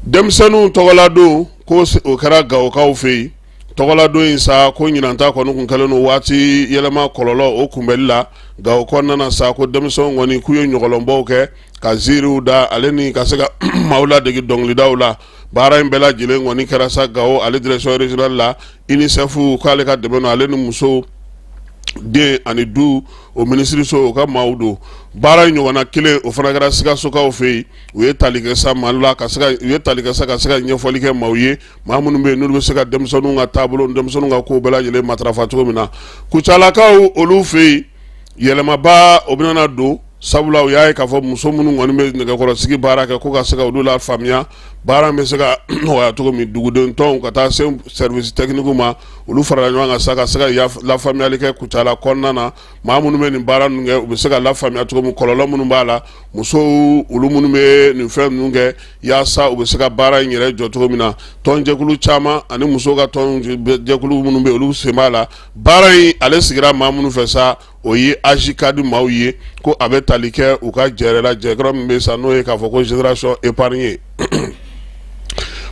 denmisɛnninw tɔgɔladon ko o kɛra gawokaw fɛ yen tɔgɔladon in sa ko ɲinan ta kɔni kun kɛlen don waati yɛlɛma kɔlɔlɔ o kunbɛli la gawo kɔnɔna na sa ko denmisɛnw kɔni k'u ye ɲɔgɔlɔnbɔw kɛ ka ziiriw da ale ni ka se ka maaw ladege dɔnkilidaw la baara in bɛɛ lajɛlen kɔni kɛra sa gawo ale direction régionale la UNICEF k'ale ka dɛmɛ na ale ni muso den ani du o minisiriso o ka maaw don baara in ɲɔgɔnna kelen o fana kɛra sikasokaw fɛ yen u ye tali kɛ sa mali la ka se ka ɲɛfɔli kɛ maaw ye maa minnu bɛ yen n'olu bɛ se ka denmisɛnninw ka taabolo denmisɛnninw ka kow bɛɛ lajɛlen matarafa cogo min na kucalakaw olu fɛ yen yɛlɛmaba o bɛna don sabula u y'a ye k'a fɔ muso minnu kɔni bɛ nɛgɛkɔrɔsigi baara kɛ ko ka se ka olu lafaamuya baara bɛ se ka nɔgɔya cogo min dugudentɔn ka taa se service technique ma olu farala ɲɔgɔn kan sa ka se ka lafaamuyali kɛ kucala kɔnɔna na maa minnu bɛ nin baara ninnu kɛ u bɛ se ka lafaamuya cogo min kɔlɔlɔ minnu b'a la musow olu minnu bɛ nin fɛn ninnu kɛ yaasa u bɛ se ka baara in yɛrɛ jɔ cogo min na tɔnjɛkulu caman ani musow ka tɔnjɛkulu minnu bɛ olu sen b'a la baara in ale sigira maa minnu fɛ sa o ye AJCAD maaw ye ko a bɛ tali kɛ u ka jɛɛrɛ la jɛkɔrɔ min bɛ sa n'o ye k'a fɔ ko génération épargnée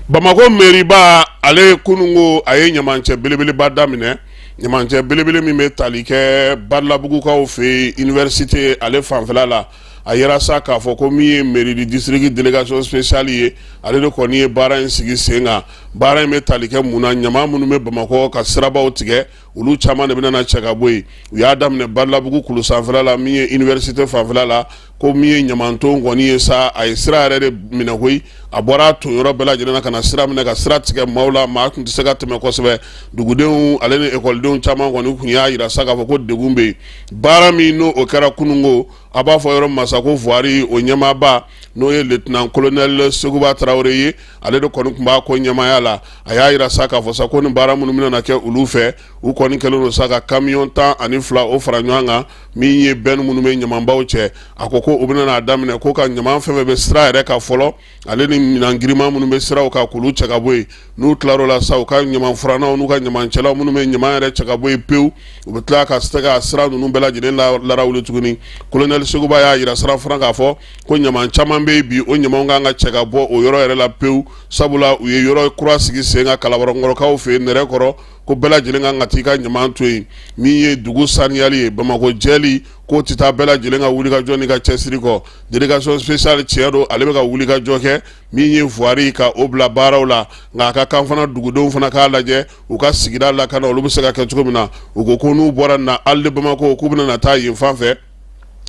bamakɔ mɛriba ale kunun ko a ye ɲamancɛ belebeleba daminɛ Ɲamancɛ belebele min bɛ tali kɛ badalabugukaw fɛ yen université ale fanfɛ la a yira sa k'a fɔ ko min ye mairie du district délégation spéciale ye ale de kɔni ye baara in sigi sen kan baara in bɛ tali kɛ mun na ɲaman minnu bɛ bamakɔ ka sirabaw tigɛ olu caman de bɛna na cɛ ka bɔ yen u y'a daminɛ badalabugu kulu sanfɛ la min ye université fanfɛ la ko min ye ɲamaton kɔni ye sa a ye sira yɛrɛ de minɛ koyi a bɔra a ton yɔrɔ bɛɛ lajɛlen na ka na sira minɛ ka sira tigɛ maaw la maa tun tɛ se ka tɛmɛ kosɛbɛ dugudenw ale ni ekɔlidenw caman kɔni kun y'a yira sa k'a fɔ ko degun bɛ yen baara min n'o o kɛra kununko a b'a fɔ yɔrɔ ma sa ko voirie o ɲɛmaaba n'o ye lieutenant colonel seguba tarawele ye ale de kɔni tun b'a ko ɲɛmaaya la a y'a yira sa k'a fɔ sa ko ni baara minnu bɛna na kɛ olu fɛ u kɔni kɛlen don sa ka kamiyɔn tan ani fila o fara ɲɔgɔn kan min ye bɛn minnu bɛ ɲamabaw cɛ a ko ko u bɛna n'a daminɛ ko ka ɲama fɛn fɛn bɛ sira yɛrɛ kan fɔlɔ ale ni minan girinman minnu bɛ siraw kan k'olu cɛ ka bɔ yen n'u tilar'o la sa u ka ɲama furannaw n'u ka ɲamacɛlaw minnu bɛ ɲama yɛrɛ cɛ ka bɔ yen pewu u bɛ tila ka se ka sira ninnu bɛɛ lajɛlen larawuli tuguni colonel seguba y'a yira sira fana k'a fɔ ko ɲama caman bɛ yen bi o ɲama kan ka cɛ ka bɔ o yɔrɔ yɛrɛ la pewu sabula u ye yɔrɔ kura sigi sen kan kalabankɔrɔkaw fɛ nɛrɛkɔrɔ ko bɛɛ lajɛlen kan ka taa i ka ɲama to yen min ye dugu saniyali ye bamakɔ jɛli k'o tɛ taa bɛɛ lajɛlen ka wulikajɔ n'i ka cɛsiri kɔ délégation spéciale tiɲɛ don ale bɛ ka wulikajɔ kɛ min ye voirie ka o bila baaraw la nka a ka kan fana dugudenw fana k'a lajɛ u ka sigida lakana olu bɛ se ka kɛ cogo min na u ko ko n'u bɔra na halles de bamako k'u bɛna na taa yen fan fɛ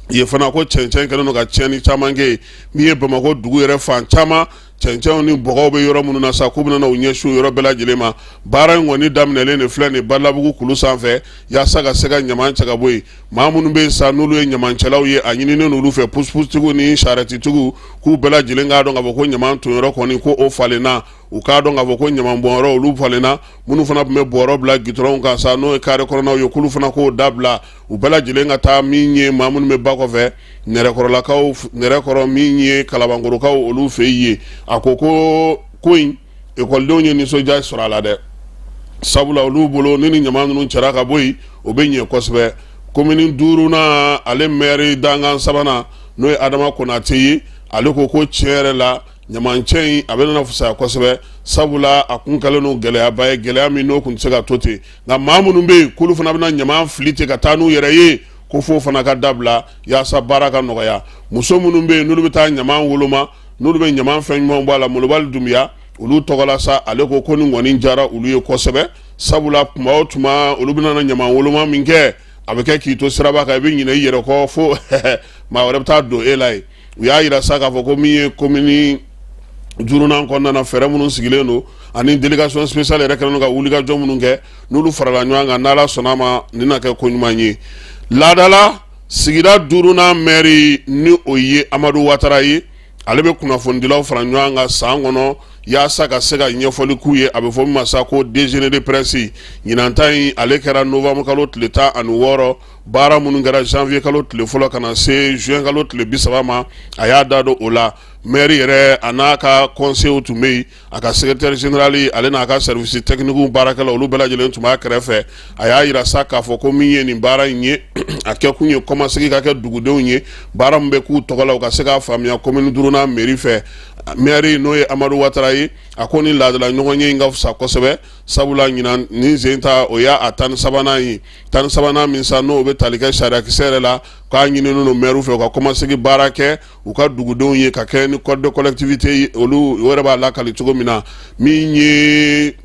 yen fana ko cɛncɛn kɛlen don ka tiɲɛni caman kɛ yen min ye bamakɔ dugu yɛrɛ fan caman cɛncɛnw ni bɔgɔw bɛ yɔrɔ minnu na sa k'u bɛna u ɲɛsin yɔrɔ bɛɛ lajɛlen ma baara in kɔni daminɛlen de filɛ nin badalabugu kulu sanfɛ yaasa ka se ka ɲama cɛ ka bɔ yen maa minnu bɛ yen sa n'olu ye ɲamancɛlaw ye a ɲininen olu fɛ pusupusutigiw ni sarɛtitigiw k'u bɛɛ lajɛlen k'a dɔn k'a fɔ ko ɲama tonyɔrɔ kɔni ko o falenna u k'a dɔn k'a fɔ ko ɲamanbɔnyɔrɔ olu falenna minnu fana tun bɛ bɔrɔ bila gitɔrɔnw kan sa n'o ye kare kɔnɔnaw ye k'olu fana k'o dabila u bɛɛ lajɛlen ka taa min ye maa minnu bɛ ba kɔfɛ nɛrɛkɔrɔlakaw nɛrɛkɔrɔ min ye kalabankɔrɔkaw olu fɛ yen a ko ko ko in ekɔlidenw ye nisɔndiya sɔrɔ a la dɛ sabula olu bolo ni ni ɲama ninnu cɛra ka bɔ yen o bɛ ɲɛ kosɛbɛ komini duurunan ale mɛri dankan sabanan n'o ye adama konatɛ ye ale ko ko tiɲɛ yɛrɛ la ɲamancɛ in a bɛna fisaya kosɛbɛ sabula a kun kɛlen don gɛlɛyaba ye gɛlɛya min n'o kun tɛ se ka to ten nka maa minnu bɛ yen k'olu fana bɛna ɲama fili ten ka taa n'u yɛrɛ ye ko fo fana ka dabila yaasa baara ka nɔgɔya muso minnu bɛ yen n'olu bɛ taa ɲama woloma n'olu bɛ ɲama fɛn ɲumanw bɔ a la molobali dunbiya olu tɔgɔla sa ale ko ko nin kɔni diyara olu ye kosɛbɛ sabula tuma o tuma olu bɛna ɲama woloma minkɛ a bɛ kɛ k'i to siraba kan i bɛ ɲinɛ i yɛrɛ kɔ fo maa wɛrɛ bɛ taa don e la ye u y'a yira sa k'a fɔ ko min ye komini duurunan kɔnɔna na fɛɛrɛ minnu sigilen don ani délégation spéciale yɛrɛ kɛlen don ka wulikajɔ minnu kɛ n'olu farala ɲɔgɔn kan n'ala sɔnna a ma nin na kɛ ko ɲuman ye laadala sigida duurunan mɛri ni o ye amadu watara ye ale bɛ kunnafonidilaw fara ɲɔgɔn kan san kɔnɔ yaasa ka se ka ɲɛfɔli k'u ye a bɛ fɔ min ma sa ko déjeuner de presse ɲinan ta in ale kɛra novembre kalo tile tan ani wɔɔrɔ baara minnu kɛra janvier kalo tile fɔlɔ ka na se juin kalo tile bi saba ma a y'a da don o la maire yɛrɛ a n'a ka conseillers tun bɛ yen a ka secrétaire général ale n'a ka service technique baarakɛla olu bɛɛ lajɛlen tun b'a kɛrɛfɛ a y'a yira sa k'a fɔ ko min ye nin baara in ye a kɛkun ye kɔmasegin ka kɛ dugudenw ye baara min bɛ k'u tɔgɔ la u ka se k'a faamuya commune duurunan mairie fɛ maire n'o ye amadu watara ye a ko ni laadala ɲɔgɔnye in ka fisa kosɛbɛ sabula ɲinan nin sen ta o y'a tan ni sabanan ye tan ni sabanan min sa n'o bɛ tali kɛ sariyakisɛ yɛrɛ la k'a ɲininen don maire fɛ u ka kɔmasegin baara kɛ u ka dugudenw ye ka kɛɲɛ ni code de collectivité olu yɛrɛ b'a lakali cogo min na min ye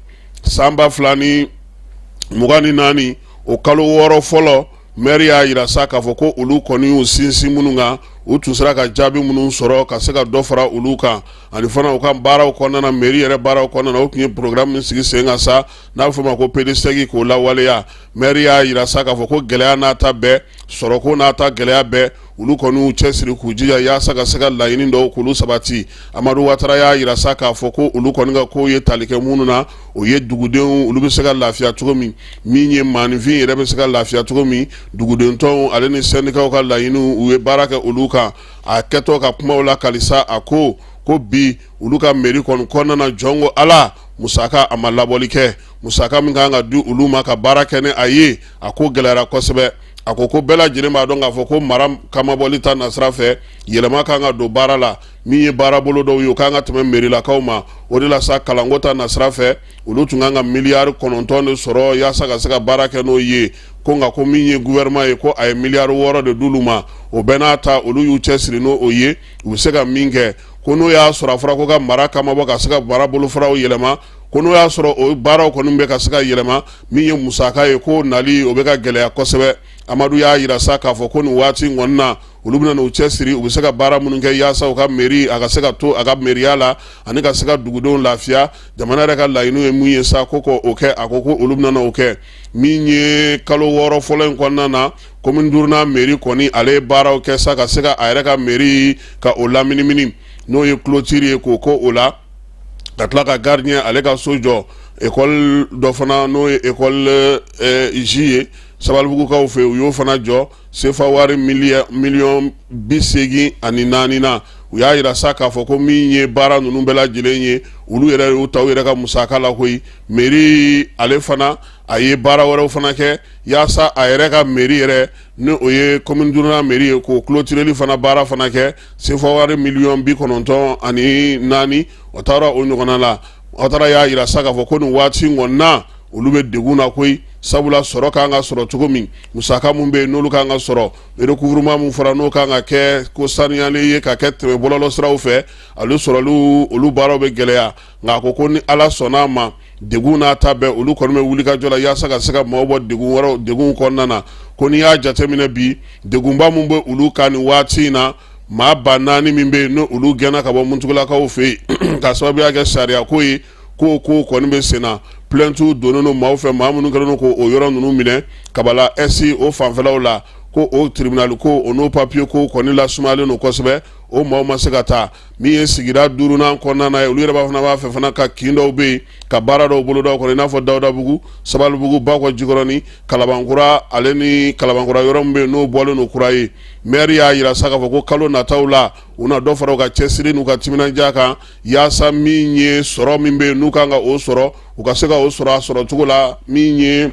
san ba fila ni mugan ni naani o kalo wɔɔrɔ fɔlɔ maire y'a yira sa k'a fɔ ko olu kɔni y'u sinsin minnu kan u tun sera ka jaabi minnu sɔrɔ ka se ka dɔ fara olu kan ani fana u ka baaraw kɔnɔna na mairie yɛrɛ baaraw kɔnɔna na u tun ye programme min sigi sen kan sa n'a bɛ fɔ o ma ko PDSEC k'o lawaleya maire y'a yira sa k'a fɔ ko gɛlɛya n'a ta bɛɛ sɔrɔko n'a ta gɛlɛya bɛɛ olu kɔni y'u cɛsiri k'u jija yaasa ka se ka laɲini dɔw k'olu sabati amadu watara y'a yira sa k'a fɔ ko olu kɔni ka kow ye tali kɛ minnu na o ye dugudenw olu bɛ se ka lafiya cogo min min ye maaninfin yɛrɛ bɛ se ka lafiya cogo min dugudentɔnw ale ni syndicatw ka laɲiniw u ye baara kɛ olu kan a kɛtɔ ka kumaw lakali sa a ko ko bi olu ka mairie kɔni kɔnɔna na jɔn ko ala musaka a ma labɔli kɛ musaka min kan ka di olu ma ka baara kɛ ni a ye a ko gɛlɛyara kosɛbɛ a ko ko bɛɛ lajɛlen b'a dɔn k'a fɔ ko mara kamabɔli ta nasira fɛ yɛlɛma kan ka don baara la min ye baara bolo dɔw ye o kan ka tɛmɛ merilakaw ma o de la sa kalanko ta nasira fɛ olu tun kan ka miliyari kɔnɔntɔn de sɔrɔ yaasa ka se ka baara kɛ n'o ye ko nka ko min ye gouvernement ye ko a ye miliyari wɔɔrɔ de d'olu ma o bɛɛ n'a ta olu y'u cɛsiri n'o o ye u bɛ se ka min kɛ ko n'o y'a sɔrɔ a fɔra ko ka mara kamabɔ ka se ka baara bolofaraw yɛlɛma ko n'o y'a sɔrɔ o baaraw kɔni bɛ ka se ka yɛlɛma min ye musaka ye ko nali o bɛ ka gɛlɛya kosɛbɛ amadu y'a yira sa k'a fɔ ko nin waati kɔni na olu bɛna n'u cɛsiri u bɛ se ka baara minnu kɛ yaasa u ka mairie a ka se ka to a ka meriya la ani ka se ka dugudenw lafiya jamana yɛrɛ ka laɲiniw ye min ye sa ko ko o kɛ a ko ko olu bɛna o kɛ min ye kalo wɔɔrɔ fɔlɔ in kɔnɔna na commune duurunan mairie kɔni ale ye baaraw kɛ sa ka se ka a yɛrɛ ka mairie ka o laminimini n'o ye clôture ye k'o kogo la ka tila ka gardien ale ka so jɔ école dɔ fana n'o ye école J ye sabalibugukaw fɛ u y'o fana jɔ sefa wari miliyɔn bi seegin ani naani na u y'a yira sa k'a fɔ ko min ye baara ninnu bɛɛ lajɛlen ye olu yɛrɛ y'u ta u yɛrɛ ka musaka la koyi maire ale fana a ye baara wɛrɛw fana kɛ yaasa a yɛrɛ ka mairie yɛrɛ ni o ye commune duurunan mairie ye k'o clôtureli fana baara fana kɛ sefa wari miliyɔn bi kɔnɔntɔn ani naani o taara o ɲɔgɔnna la watara y'a jira sa k'a fɔ ko nin waati kɔnɔna olu bɛ degun na koyi sabula sɔrɔ kan ka sɔrɔ cogo min musaka minnu bɛ yen n'olu ka kan ka sɔrɔ recouvrement min fɔra n'o kan ka kɛ ko saniyalen ye ka kɛ tɛmɛ bɔlɔlɔsiraw fɛ ale sɔrɔli olu baaraw bɛ gɛlɛya nka a ko ko ni ala sɔnna a ma degun n'a ta bɛɛ olu kɔni bɛ wuli ka jɔ la yaasa ka se ka maaw bɔ degun wɛrɛ degunw kɔnɔna na ko n'i y'a jateminɛ bi degunba min bɛ olu kan nin waati in na maa ba naani min bɛ yen n' olu gɛnna ka bɔ muntugulakaw fɛ yen ka sababuya kɛ sariya ko ye ko ko kɔni bɛ sen na plainte donnen don maaw fɛ maa minnu kɛlen ko o yɔrɔ ninnu minɛ kabala est o fanfɛlaw la ko o tiribinali ko o n'o papiye ko kɔni lasumayalen don kosɛbɛ o maaw ma se ka taa min ye sigida duurunan kɔnɔna na ye olu yɛrɛ b'a fana b'a fɛ fana ka kin dɔw bɛ yen ka baara dɔw boloda u kɔnɔ i n'a fɔ dawudabugu sabalibugu bakɔ jikɔrɔni kalabankura ale ni kalabankura yɔrɔ min bɛ yen n'o bɔlen don kura ye maire y'a jira sa k'a fɔ ko kalo nataw la u na dɔ fara u ka cɛsiri n'u ka timinandiya kan yaasa min ye sɔrɔ min bɛ yen n'u kan ka o sɔrɔ u ka se ka o sɔrɔ a sɔrɔ cogo la min ye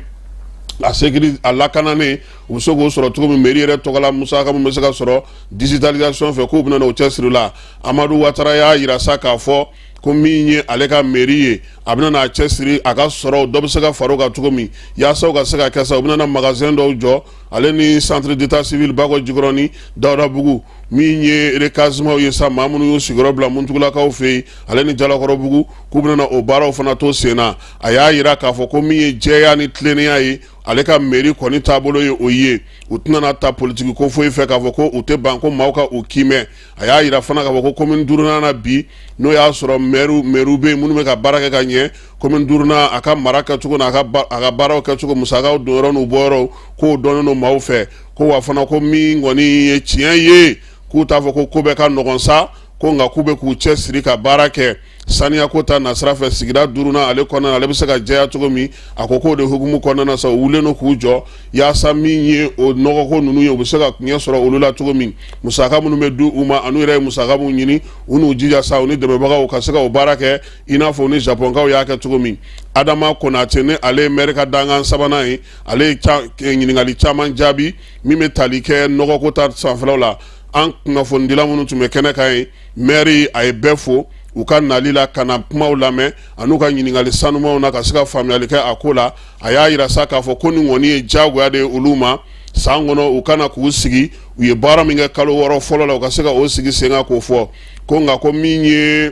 a sécurité a lakananen u bɛ se k'o sɔrɔ cogo min mairie yɛrɛ tɔgɔla musaka min bɛ se ka sɔrɔ Digitalisation fɛ k'u bɛna na u cɛ siri la, Amadu Watara y'a jira sa k'a fɔ ko min ye ale ka mairie ye, a bɛna na a cɛ siri a ka sɔrɔ dɔ bɛ se ka fara o kan cogo min yaasa u ka se ka kɛ sa u bɛna na magasin dɔw jɔ ale ni centre d'état civil Bakɔ Jikɔrɔni Dawudabugu min ye recasement ye sa maa minnu y'u sigiyɔrɔ bila Muntugulakaw fɛ yen ale ni Jalakɔrɔbugu k'u bɛna na o baaraw fana to sen na, a y'a jira k'a fɔ ko min ye jɛya ni tilennenya ye ale ka mairie kɔni taabolo ye o ye u tɛna na ta politiki ko foyi fɛ k'a fɔ ko u tɛ ban ko maaw ka u kiimɛ a y'a jira fana k'a fɔ ko commune duurunan na bi n'o y'a sɔrɔ mɛriw bɛ yen minnu bɛ ka baara kɛ ka ɲɛ commune duurunan a ka mara kɛcogo n'a ka baaraw kɛcogo musakaw donyɔrɔ n'u bɔyɔrɔ k'o dɔnnen don maaw fɛ ko wa fana ko min kɔni ye tiɲɛ ye k'u t'a fɔ ko ko bɛɛ ka nɔgɔn sa ko nka k'u bɛ k'u cɛ siri ka baara kɛ saniya ko ta nasira fɛ sigida duurunan ale kɔnɔna ale bɛ se ka jɛya cogo min a ko k'o de hukumu kɔnɔna sa u wulilen no k'u jɔ yaasa min ye o nɔgɔko ninnu ye u bɛ se ka ɲɛ sɔrɔ olu la cogo min musaka minnu bɛ di u ma an'u yɛrɛ ye musaka minnu ɲini u n'u jija sa u ni dɛmɛbagaw ka se ka o baara kɛ i n'a fɔ u ni japɔnkaw y'a kɛ cogo min adama konate ni ale ye mɛri ka dankan sabanan ye ale ye ɲininkali caman jaabi min bɛ tali kɛ nɔgɔko ta sanfɛlaw la an kunnafonidila minnu tun bɛ kɛnɛ kan ye mɛri a ye bɛɛ fo u ka nali la ka na kumaw lamɛn ani u ka ɲininkali sanumanw na ka se ka faamuyali kɛ a ko la a y'a jira sa k'a fɔ ko nin kɔni ye jagoya de ye olu ma san kɔnɔ u kana k'u sigi u ye baara min kɛ kalo wɔɔrɔ fɔlɔ la u ka se ka o sigi sen kan k'o fɔ ko nka ko min ye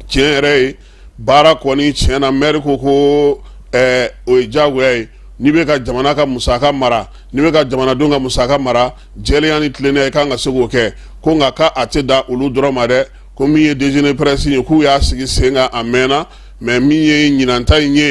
tiɲɛ yɛrɛ ye baara kɔni tiɲɛ na mɛri ko ko o ye jagoya ye n'i bɛ ka jamana ka musaka mara n'i bɛ ka jamanadenw ka musaka mara jɛlenya ni tilennenya i kan ka se k'o kɛ ko nka k' a tɛ da olu dɔrɔn ma dɛ ko min ye déjeuner presse ye k'u y'a sigi sen kan a mɛnna mɛ min ye ɲinanta in ye